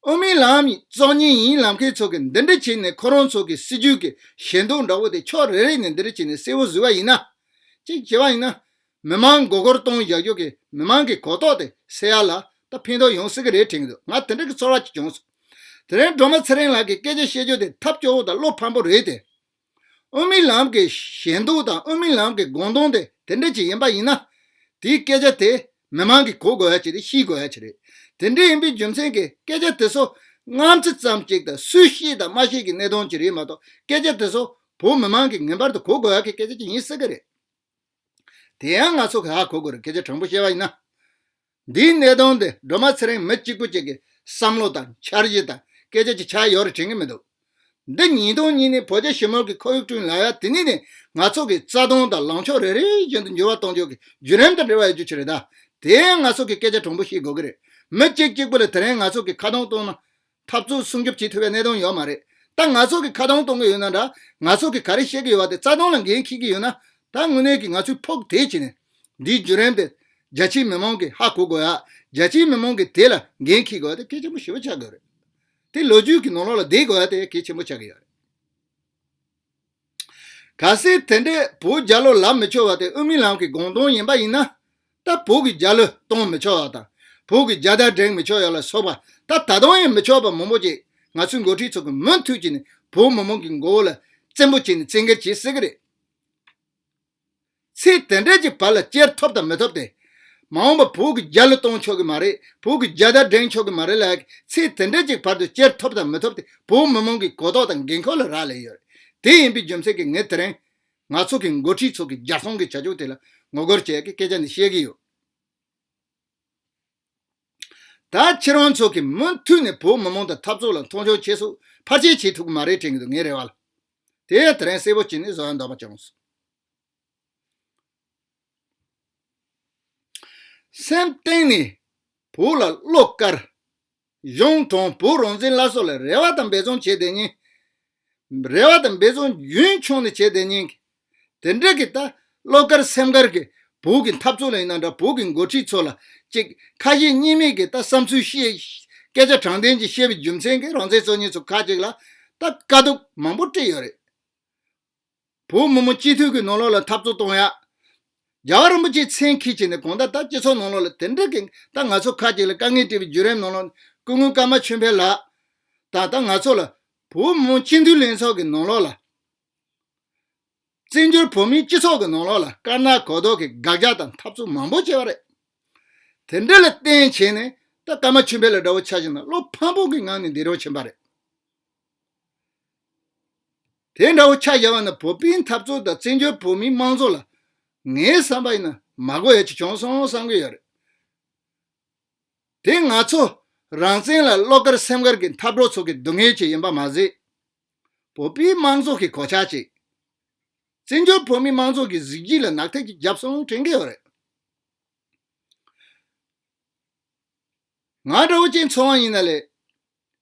དབུ་མའི་ལམ་གཙོ་གཉིས་ཡིན་ལམ་མཁན་ཚོ་གིས་འདི་འདྲ་བྱས་ནས་ཁོ་རང་ཚོ་གི་སྲིད་ཇུས་ཀྱི་ཞེན་མདོག་འདྲ་བོ་དེ་ཕྱོགས་རེ་རེ་ནས་འདི་འདྲ་བྱས་ནས་གསལ་བོ་བཟོས་པ་ཡིན་ན། གཅིག་བྱས་པ་ཡིན་ན། མི་མང་མགོ་སྐོར་གཏོང་བཞག་རྒྱུ་གི་མི་མང་གི་གོ་རྟོགས་དེ་སེལ་ཡག་ལ་ད་ཕན་ཐོགས་ཡོང་སྲིད་གི་རེད་དྲན་གི་འདུག་ང་དེ་འདྲ་གི་ཚོར་བ་གཅིག་བྱུང་སོང། དེ་རིང་སྒྲོལ་མ་ཚེ་རིང་ལགས་ཀྱི་སྐད་ཆ་བཤད་རྒྱུ་དེ་ཐབས་སྐྱོ་བོ་དང་བློ་ཕམ་པོ་རེད་དེ། ཨོ་མིན་ལམ་གྱི་ཞེན་འདོགས་དང་ཨོ་མིན་ལམ་གྱི་དགོངས་དོན་དེ་དེ་འདྲ་ཅིག་ཡིན་པ་ཡིན་ན། དེའི་སྐད་ཆ་དེ་མི་མང་གིས་གོ་དགོས་ཡ་ཅིག་རེད་ཤེས་དགོས་ཡ་ཅིག་རེད། དེ་འདྲ་ཡིན་པའི་རྒྱུ་མཚན་གྱིས་སྐད་ཆ་དེ་ཚོ་སྔམ་ཚིག་ཙམ་གཅིག་དང་སུས་ཤེས་དང་མ་ཤེས་ཀྱི་གནད་དོན་གཅིག་རེད་མ་གཏོགས་སྐད་ཆ་དེ་ཚོ་བོད་མི་མང་གིས་ངེས་པར་དུ་གོ་དགོས་ཡ་གི་སྐད་ཆ་ཅིག་ཡིན་སྲིད་ཀྱི་རེད། དེ་ཡང་ང་ཚོ་གིས་ཧ་གོ་དགོས་རེད་སྐད་ཆ་དྲང་པོ་བཤད་པ་ཡིན་ན། འདིའི་གནད་དོན་དེ་སྒྲོལ་མ་ཚེ་རིང་མི་གཅིག་པུ་གཅིག་གི་བསམ་བློ་དང་འཆར་གཞི་དང་སྐད་ཆ་གཅིག་ཆ་ཡོད་རེ་དྲན་གྱི་མི་འདུག་འདི་ཉིས་སྟོང་གཉིས་ནི་བོད་རྒྱ་ཞི་མོལ་གྱི་ཁོར་ཡུག་བསྐྲུན་ལ་ཡ་དེ་ནས་ནས་ང་ཚོ་གི་རྩ་དོན་དང་ལངས་ཕྱོགས་རེ་རེ་བཞིན་དུ་འགྱུར་བ་གཏོང་རྒྱུ་གི་བརྒྱུད་རིམ་དང་འབྲེལ་བ་ཡོད་རྒྱུ་ཆེ་རེད་ད་དེའི་ང་ཚོ་གི་སྐད་ཆ་དྲང་པོ་ཤེས་དགོས་ཀྱི་རེད་མི་གཅིག་གཅིག་པུ་ལ་དེ་རིང་ང་ཚོ་གི་ཁ་གདངས་གཏོང་ན་འཐབ་རྩོད་སྲུང་སྐྱོབ་བྱེད་ཐུབ་པའི་གནད་དོན་ཡོད་མ་རེད། ད་ང་ཚོ་གིས་ཁ་གདངས་གཏོང་གི་ཡོད་ན་འདྲ། ང་ཚོ་གིས་ག་རེ་བཤད་ཀྱི་ཡོད་པ་དེ་རྩ་དོན་ལ་འགན་འཁྱེར་གྱི་ཡོད་ན། ད་དངོས་གནས་ཀྱིས་ང་ཚོས་ཕོག་ཐེག་བྱས་ནས། འདིའི་བརྒྱུད་རིམ་དེ། རྒྱ་ཆེའི་མི་མང་གིས་ཧ་གོ་དགོས་ཡ། རྒྱ་ཆེའི་མི་མང་གིས་དེ་ལ་འགན་འཁྱེར་དགོས་ཡ་དེ་གལ་ཆེན་པོ་ཞེ་པོ་ཆགས་དགོས་རེད། དེ་ལོ་རྒྱུས་ཀྱི་ནོར་ལོག་ལ་བསྡད་དགོས་ཡ་དེ་གལ་ཆེན་པོ་ཆགས་ཀྱི་ཡོད་རེད། ག་སྲིད་དེ་འདྲའི་བུ་བརྒྱ་ལོ་ལམ་མི་ཆོད་བ་དེ་དབུ་མའི་ལམ་གྱི་དགོངས་དོན་ཡིན་པ་ཡིན་ན། ད་བུ་གི་བརྒྱ་ལོ་སྟོང་མི་ཆོད་བ་དང། བུ་གི་བརྒྱ་ཟླ་འགྲེང་མི་ཆོད་ཡོད་ལ་སོགས་པ་ད་ད་དུང་ཡང་མི་ཆོག་པ་མང་པོ་ཅིག་ང་ཚོའི་འགོ་ཁྲིད་ཚོ་གིས་མུ་མཐུད་ཀྱིས་ནས་བུ་མི་མང་གི་མགོ་བོ་ལ་བཙན་པོ་བྱས་ནས་བཙན་འགེལ་བྱེད་སྲིད་ཀྱི་རེད། ཚེ་དེ་འདྲས་ཀྱི་བར་ལ་སྐྱེར་ཐོབ་དང་མི་ཐོབ་སྟེ། མ་འོངས་པར་བུ་གི་རྒྱ་ལ་གཏོང་ཆོག་གི་མ་རེད་བུ་གི་རྒྱ་དར་སྒྲེང་ཆོག་གི་མ་རེད་ལ། ཚེ་དེ་འདྲས་ཀྱི་བར་དུ་སྐྱེར་ཐོབ་དང་མི་ཐོབ་སྟེ་བོད་མི་མང་གི་གོ་རྟོགས་དང་འགན་ཁུར་ལ་རག་ལས་ཡོད། དེ་ཡིན་པའི་རྒྱུ་མཚན་གྱིས་ངས་དེ་རིང། ང་ཚོ་གི་མགོ་ཁྲིད་ཚོ་གི་རྒྱ་སྲོང་གི་བྱ་སྤྱོད་དེ་ལ་ངོ་རྒོལ་བྱས་ཀྱི་སྐད་ཆ་འདི་བཤད་ཀྱི་ཡོད། ད་ཁྱེད་རང་ཚོ་གིས་མུ་མཐུད་ནས་བོད་མི་མང་དང་འཐབ་རྩོད་ལ་མཐོང་ཆུང་བྱེད་སོགས་ཕར་ཆེར་བྱེད་ཐུབ་ཀྱི་མ་རེད་དྲན་གྱི་འདུག་ངའི་རེ་བ་ལ། དེ་ཡང་དེ་རིང་གསལ་པོ་བྱས་ནས་བཟོ་ཡ་འདོགས་པ་བྱུང་སོང། སེམས་གཏིང་ནས་བོད་ལ་བློ་དཀར། གཞུང་དྲང་བོད་རང་བཙན་སླར་གསོ་ལ་རེ་བ་དང་འབད་བརྩོན་བྱེད་བསྡད་ཉིན། རེ་བ་དང་འབད་བརྩོན་རྒྱུན་འཁྱོངས་ནས་བྱས་དེ་ཉིན་གྱི་དེ་འབྲེལ་གྱི་ད་བློ་དཀར་སེམས་དཀར་གྱི་བོད་ཀྱི་འཐབ་རྩོད་ལ་ཡིན་ན་འདྲ་བོད་ཀྱི་འགོ་ཁྲིད་ཚོ་ལ་ཅིག་ཁ་ཞེ་གཉིས་མེད་ཀྱི་ད་བསམ་ཚུལ་བཤད། སྐད་ཆ་དྲང་བདེན་གྱི་བཤད་པའི་རྒྱུ་མཚན་གྱི་རང་བཙན་གཙོ་གཉེར་ཚོ་ཁག་ཅིག་ལ་ད་དཀའ་སྡུག་མང་པོ་སྤྲད་ཡོད་རེད། བུ་མོ་མོ་སྤྱི་འཐུས་ཀྱི་ནང་ལོགས་ལ་འཐབ་རྩོད་གཏོང་ཡ། རྒྱལ་བ་རིན་པོ་ཆེ་མཚན་འཁེལ་བྱས་ནས་གོང་ད་ད་སྤྱི་ཚོགས་ནང་ལོགས་ལ་དེ་འདྲ་གིན་ད་ང་ཚོ་ཁག་ཅིག་ལ་དཀའ་ངལ་སྤྲད་པའི་བརྒྱུད་རིམ་ནང་ལོགས་སྐུ་ངོ་ཀརྨ་ཆོས་འཕེལ་ལགས་དང་ད་ང་ཚོ་ལ་བུ་མོ་མོ་སྤྱི་འཐུས་ལྷན་ཚོགས་ཀྱི་ནང་ལོགས་ལ། བཙན་བྱོལ་བོད་མིའི་སྤྱི་ཚོགས་ཀྱི་ནང་ལོགས་ལ་དཀར་ནག་གོ་ལྡོག་གིས་དགག་རྒྱག་དང་འཐབ་རྩོད་མང་པོ་བྱས་པ་རེད། དེ་འདྲ་ལ་བརྟེན་བྱས་ནས་ད་ཀརྨ་ཆོས་འཕེལ་ལ་དགྲ་བོ་ཆགས་ཤིང་དང་བློ་ཕམ་ཕོག་གི་ངང་ནས་འདས་གྲོངས་ཕྱིན་པ་རེད། དེ་འདྲ་བོ་ཆ་བཞག་པ་ན་བོད་པའི་འཐབ་རྩོད་དང་བཙན་བྱོལ་བོད་མིའི་དམངས་གཙོ་ལ་ངའི་བསམ་པ་ཡིན་ན་མ་གོ་ཡ་ཅིག་བྱུང་སོང་བསམ་གྱི་ཡོད་རེད། དེ་ང་ཚོ་རང་བཙན་ལ་བློ་དཀར་སེམས་དཀར་གྱི་འཐབ་གྲོགས་ཚོ་གི་སྡུག་བསྔལ་ཅིག་ཡིན་པ་མ་ཟད། བོད་པའི་དམངས་གཙོ་གི་གོ་ཆ་ཅིག་བཙན་བྱོལ་བོད་མིའི་དམངས་གཙོ་གི་གཟི་བརྗིད་ལ་ནག་ཐིག་ཅིག་བརྒྱབ་སོང་དྲན་གྱི་ཡོད་རེད། ང་འདྲ་བོ་ཅིག་འཚོ་བ་ཡིན་ན་ལས་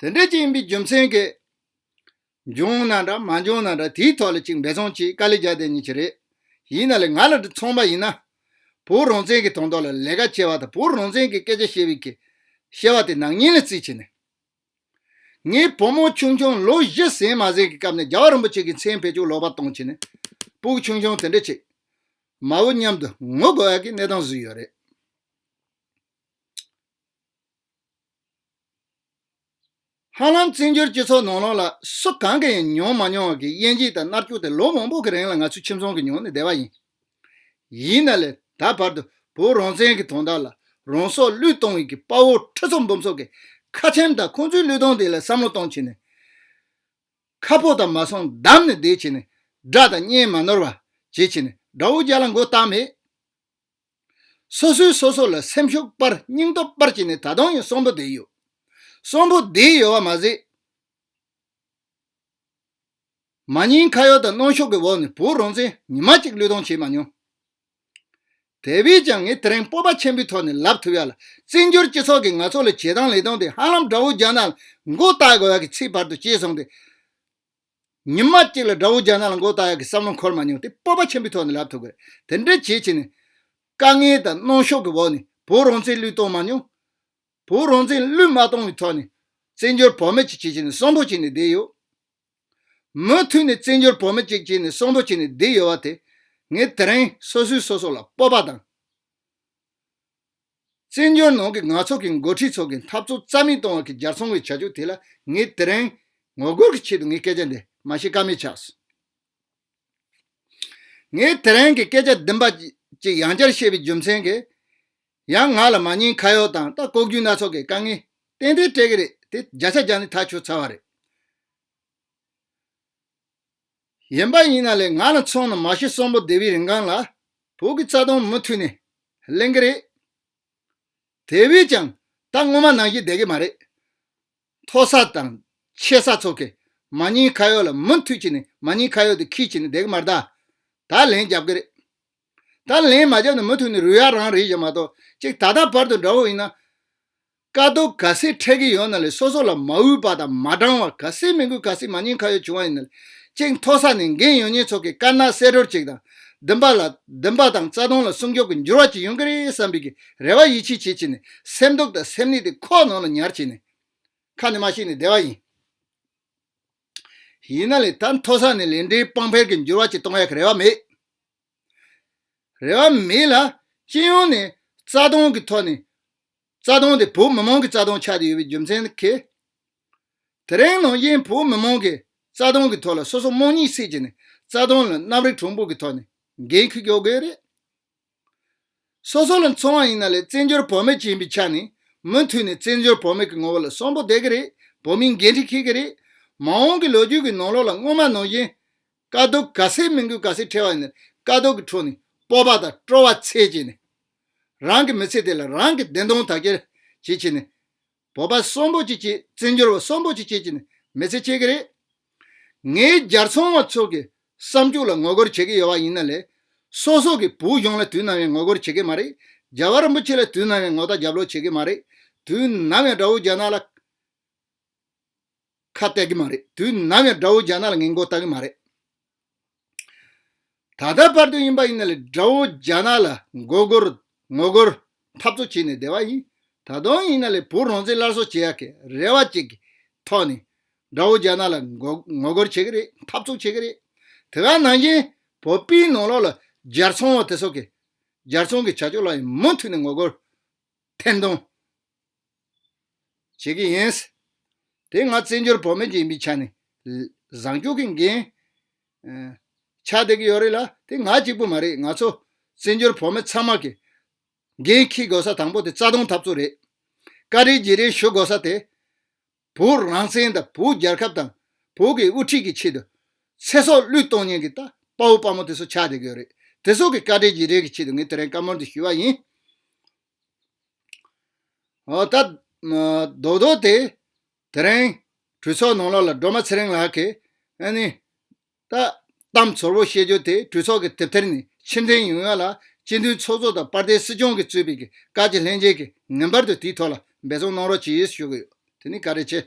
དེ་འདྲའི་སྤྱི་ཡིན་པའི་རྒྱུ་མཚན་གྱིས། འབྱུང་ན་འདྲ་མ་འབྱུང་ན་འདྲ་དེའི་ཐོག་ལ་ཅིག་འབད་བརྩོན་གྱིས་དཀའ་ལས་རྒྱག་དེ་ཉིད་ཀྱི་རེད། ཡིན་ན་ལས་ང་ལ་མཚུངས་པ་ཡིན་ན། བོད་རང་བཙན་གྱི་དོན་དག་ལ་ལས་ཀ་བྱེད་པ་དང་བོད་རང་བཙན་གྱི་སྐད་ཆ་བཤད་པའི་གི། བཤད་པ་དེ་ནག་ཉེས་ལ་བརྩིས་བྱས་ནས། ངའི་བུ་མོ་ཆུང་ཆུང་ལོ་བཞི་ཟིན་མ་ཟིན་གྱི་སྐབས་ནས་རྒྱ་བ་རིན་པོ་ཆེ་གི་མཚན་བེད་སྤྱོད་ལོག་པར་གཏོང་བྱས་ནས། སྤུག་ཆུང་ཆུང་དེ་འདྲ་ཅིག། མ་བུ་མཉམ་དུ་ངུ་དགོས་ཡག་གི་གནས་སྟངས་བཟོས་ཡོད་རེད། ཧ་ལམ་བཙན་བྱོལ་སྤྱི་ཚོགས་ནང་ལོགས་ལ་སུ་གང་གིས་ཡང་མྱོང་མ་མྱོང་བ་གི་དབྱེ་འབྱེད་དང་མནར་སྐྱུག་དེ་ལོ་མང་པོ་གི་རིང་ལ་ང་ཚོས་ཁྱིམ་ཚང་གི་མྱོང་ནས་བསྡད་པ་ཡིན། ཡིན་ན་ལས་ད་བར་དུ་བོད་རང་བཙན་གི་དོན་དག་ལ་རང་སྲོག་བློས་གཏོང་ཡི་གི་དཔའ་བོ་ཁྲི་ཚོ་འབུམ་ཚོ་གི་ཁ་ཆེམས་དང་ཁོང་ཚོའི་བློས་གཏོང་དེ་ལ་བསམ་བློ་གཏོང་བྱེད་ནས་ཁ་ཕོ་དང་མ་སོང་བསྡམས་ནས་བསྡད་བྱེད་ནས་དགྲ་དང་གཉེན་མ་ནོར་བ་བྱེད་བྱེད་ནས་དགྲ་བོ་རྒྱ་ལ་མགོ་བཏགས་མེད། སོ་སོས་སོ་སོ་ལ་སེམས་ཤུགས་སྤར་སྙིང་སྟོབས་སྤར་བྱས་ནས་ད་དུང་ཡང་གསོན་པོ་བསྡད་ཡོད། གསོན་པོ་བསྡད་ཡོད་བ་མ་ཟད། མ་ཉེས་ཁ་གཡོག་དང་གནོན་ཤོག་གི་འོག་ནས་བོད་རང་བཙན་ཉི་མ་གཅིག་བློས་གཏོང་བྱས་མ་མྱོང། དེ་བས་ཀྱང་ངས་དེ་རིང་སྤོབས་པ་ཆེན་པོའི་ཐོག་ནས་ལབ་ཐུབ་ཡག་ལ་བཙན་བྱོལ་སྤྱི་ཚོགས་ཀྱིས་ང་ཚོ་ལ་བྱེད་སྟངས་ལས་སྟངས་དེ་ཧ་ལམ་དགྲ་བོ་རྒྱ་ནག་ལ་མགོ་བཏགས་དགོས་ཡག་གི་ཚིག་བར་དུ་བཅད་སོང་སྟེ། ཉིན་མ་གཅིག་ལ་དགྲ་བོ་རྒྱ་ནག་ལ་མགོ་བཏགས་ཡག་གི་བསམ་བློ་འཁོར་མ་མྱོང་དེ་སྤོབས་པ་ཆེན་པོའི་ཐོག་ནས་ལབ་ཐུབ་དགོས་དེ་འདྲ་བྱེད་ཕྱིན་ནས། དཀའ་ངལ་དང་གནོང་ཤོག་གི་འོག་ནས་བོད་རང་བཙན་བསླུས་གཏོང་མ་མྱོང། བོད་རང་བཙན་བསླུས་མ་གཏོང་བའི་ཐོག་ནས། བཙན་བྱོལ་བོད་མི་གཅིག་བྱེད་ཕྱིན་ནས་གསོན་པོ་བྱས་ནས་བསྡད་ཡོད། མུ་མཐུད་ནས་བཙན་བྱོལ་བོད་མི་གཅིག་བྱས་ནས་གསོན་པོ་བྱས་ནས་བསྡད་ཡོད་བ་དེ། ངས་དེ་རིང་སོ་སོས་སོ་སོ་ལ་སྤོབས་པ་དང། བཙན་བྱོལ་ནང་གི་ནག་ཚོགས་ཀྱི་མགོ་ཁྲིད་ཚོ་གི་འཐབ་རྩོད་རྩ་མེད་གཏོང་བ་གི་ཇག་ཚོང་བའི་བྱ་སྤྱོད་དེ་ལ་ངས་དེ་རིང་ངོ་རྒོལ་གི་ཆེད་དུ་ངས་སྐད་ཆ་འདི་མ་བཤད་ཀ་མེད་ཆགས་སོང། ངས་དེ་རིང་གི་སྐད་ཆ་བདུན་པ་གཅིག་ཡང་བསྐྱར་བཤད་པའི་རྒྱུ་མཚན་གྱིས་ཡང་ང་ལ་མ་ཉེས་ཁ་ཡོག་དང་ལྟ་ལྐོག་རྒྱུ་སྣ་ཚོགས་ཀྱི་དཀའ་ངལ་ཏན་ཏན་སྤྲད་ཀྱི་རེད་དེ་བརྒྱ་ཆ་བརྒྱ་ནི་ཐག་ཆོད་ཚར་བ་རེད། གཞན་པ་ཡིན་ན་ལས་ང་ལ་མཚོན་ན་མ་ཤི་གསོན་པོ་སྡེ་བའི་རིན་གང་ལ་བོད་ཀྱི་རྩ་དོན་མུ་མཐུད་ནས་གླེང་གི་རེད། དེ་བས་ཀྱང་ད་སྔོན་མ་ནང་བཞིན་བསྡད་ཀྱི་མ་རེད། མཐོ་ས་དང་ཆེ་ས་ཚོ་གས་མ་རྙིང་ཁ་ཡོག་ལ་མུ་མཐུད་ཀྱི་ནས་མ་རྙིང་ཁ་ཡོག་དེ་ཁིས་ཀྱི་ནས་བསྡད་ཀྱི་མ་རེད་ད། ད་ལན་རྒྱབ་ཀྱི་རེད། ད་ལན་མ་རྒྱབ་ནས་མུ་མཐུད་ནས་རུལ་ཡ་རང་རེད་ཞེས་མ་གཏོགས་ཅིག་ད་ལྟ་བར་དུ་འདྲ་བོ་ཡིན་ན། དཀའ་སྡུག་ག་སྲིད་འཕྲད་ཀྱི་ཡོད་ན་ལས་སོ་སོ་ལ་མ་འུད་པ་དང་མ་འགྲང་བར་ག་སྲིད་མི་འགུལ་ག་སྲིད་མ་ཉན་ཁ་ཡོད་བྱུང་བ་ཡིན་ན་ལས་གཅིག་མཐོ་ས་ནས་འགན་ཡོད་ཉེས་ཚོགས་ཀྱི་དཀར་ནག་བསེད་རོལ་གཅིག་དང། བདུན་པ་ལ། བདུན་པ་དང་རྩ་སྟོང་ལ་སྲུང་སྐྱོབ་ཀྱི་འགྱུར་བ་གཅིག་ཡོང་གི་རེད་བསམ་པའི་གི་རེ་བ་ཡིད་ཆེས་བྱེད་བྱེད་ནས་སེམས་སྡུག་དང་སེམས་ནད་དེ་ཁོག་ནང་ལ་ཉར་བྱས་ནས། ཁ་ནས་མ་བཤད་ནས་བསྡད་པ་ཡིན། ཡིན་ན་ལས་ད་མཐོ་ས་ནས་ལས་འབྲས་དཔང་འཕེར་གྱི་འགྱུར་བ་གཅིག་གཏོང་ཡག་གི་རེ་བ་མེད། རེ་བ་མེད་ལ། སྤྱི་ཡོངས་ནས་རྩ་སྟོང་གི་ཐོག་ནས། རྩ་དོན་དེ་བོད་མི་མང་གི་རྩ་དོན་ཆགས་ཀྱི་ཡོད་པའི་རྒྱུ་མཚན་ནི་གལ། དེ་རིང་ནང་བཞིན་བོད་མི་མང་གི་རྩ་དོན་གྱི་ཐོག་ལ་སོ་སོ་རྨོངས་གཉིད་སད་ཀྱི་ནས་རྩ་དོན་ལ་རྣམ་རིག་གྲོགས་འབོད་ཀྱི་ཐོག་ནས་འགན་ཁུར་རྒྱག་དགོས་རེད། སོ་སོ་ལ་མཚོན་བ་ཡིན་ན་ལས་བཙན་བྱོལ་བོད་མི་བྱིན་པའི་ཆ་ནས་མུ་མཐུད་ནས་བཙན་བྱོལ་བོད་མི་གི་ངོ་བོ་ལ་སོམ་པོ་བསྡད་ཀྱི་རེད་བོད་མིའི་འགན་འཁྲི་འཁྱེར་གྱི་རེད། མ་འོངས་ཀྱི་ལོ་རྒྱུས་ཀྱི་ནང་ལོགས་ལ་སྔོན་མ་ནང་བཞིན་དཀའ་སྡུག་ག་ཚད་མི་འགུལ་ག་ཚད་འཕྲད་བ་ཡིན་ན་དཀའ་སྡུག་གི་ཁྲོད་ནས་སྤོབས་པ་དང་སྤྲོ་བ་འཚལ་ཀྱི་ནས། རང་གི་མི་ཚེ་དེ་ལ་རང་གི་བདེན་སྟོང་དག་གྱེར་བྱེད་ཀྱི་ནི། བོད་པ་གསོན་པོ་གཅིག་གིས་བཙན་འབྱོར་བ་གསོན་པོ་གཅིག་བྱེད་ཀྱི་ནི་མི་ཚེ་ཁྱེད་ཀྱི་རེད། ངའི་རྒྱར་ཚོང་བ་ཚོ་གི་བསམ་སྤྱོད་ལ་ངོ་རྒོལ་བྱེད་ཀྱི་ཡོད་བ་ཡིན་ན་ལས། སོ་སོ་གི་བུ་གཞོང་ལ་དུས་ནམ་ཡང་ངོ་རྒོལ་བྱེད་ཀྱི་མ་རེད། རྒྱལ་བ་རིན་པོ་ཆེ་ལ་དུས་ནམ་ཡང་ངོ་རྟ་རྒྱབ་ལོག་བྱེད་ཀྱི་མ་རེད། དུས་ནམ་ཡང་དགྲ་བོ་རྒྱ་ནག་ལ། ཁ་གཏད་གི་མ་རེད་དུས་ནམ་ཡང་དགྲ་བོ་རྒྱ་ནག་ལ་ངན་གོ་བལྟ་གི་མ་རེད། ད་ལྟ་བར་དུ་ཡིན་པ་ཡིན་ལ་དགྲ་བོ་རྒྱ་ནག་ལ་མགོ་སྒོར་ངོ་སྒོར་འཐབ་རྩོད་བྱེད་ནས་བསྡད་པ་ཡིན་ད་དུང་ཡིན་ན་ལས་བུ་རང་བཙན་སླར་གསོ་བྱེད་ཡག་གི་རེ་བ་བཅས་ཀྱི་ཐོག་ནས་དགྲ་བོ་རྒྱ་ནག་ལ་ངོ་སྒོར་བྱེད་གི་རེད་འཐབ་རྩོད་བྱེད་གི་རེད་དེ་ག་ནང་བཞིན་བོད་པའི་ནང་ལོག་ལ་རྒྱལ་ཚོང་བ་དེ་སོགས་ཀྱི་རྒྱལ་ཚོང་གི་བྱ་སྤྱོད་ལ་ཡང་མུ་མཐུད་ནས་ངོ་སྒོར་འཐེན་འདོང། བྱེད་ཀྱི་ཡིན། དེ་སྔ་བཙན་བྱོལ་བོད་མི་རྗེས་མི་ཆ་ནས་བཟང་སྐྱུག་གི་འགན་ཆ་སྡད་ཀྱི་ཡོད་རེད་ལ་དེ་ང་གཅིག་པུ་མ་རེད་ང་ཚོ་བཙན་བྱོལ་བོད་མི་ཚང་མ་གི་འགན་འཁྱི་དགོས་ས་དང་པོ་དེ་རྩ་སྟོང་འཐབ་རྩོད་རེད་བཀའ་དྲིན་རྗེས་དྲན་ཞུ་དགོས་ས་དེ་བོད་རང་བཙན་དང་བོད་རྒྱལ་ཁབ་དང་བོད་ཀྱི་དབུ་ཁྲིད་ཀྱི་ཆེད་དུ་ཚེ་སྲོག་བླུས་གཏོང་ཉེན་གྱི་དཔའ་བོ་དཔའ་མོ་དེ་ཚོ་ཆ་སྡད་ཀྱི་ཡོད་རེད་དེ་ཚོ་གི་བཀའ་དྲིན་རྗེས་དྲན་གྱི་ཆེད་དུ་ངས་དེ་རིང་བཀའ་མོལ་འདི་ཞུས་བ་ཡིན། ད། རྡོག་རྡོག་དེ། དེ་རིང། གྲོས་ཚོགས་ནང་ལོགས་ལ་སྒྲོལ་མ་ཚེ་རིང་ལགས་ཀྱིས། ཨཱ་ནི། ད། གཏམ་ཚོར་བོ་བཤད་རྒྱུ་དེ་གྲོས་ཚོགས་ཀྱི་དེབ་ཐེར་ནས་ཕྱིར་འཐེན་ཡོང་ཡོད་ལ། སྤྱི་མཐུན་ཚོགས་གཙོ་དང་པར་ཏའི་སྲིད་སྐྱོང་གིས་གཙོས་པའི་གི་བཀའ་སྤྱི་ལྷན་རྒྱས་ཀྱིས་ངེས་པར་དུ་དེའི་ཐོག་ལ་འབད་བརྩོན་གནང་རོགས་ཅེས་ཞུ་གི་ཡོད་དེ་ནི་ག་རེ་བྱས།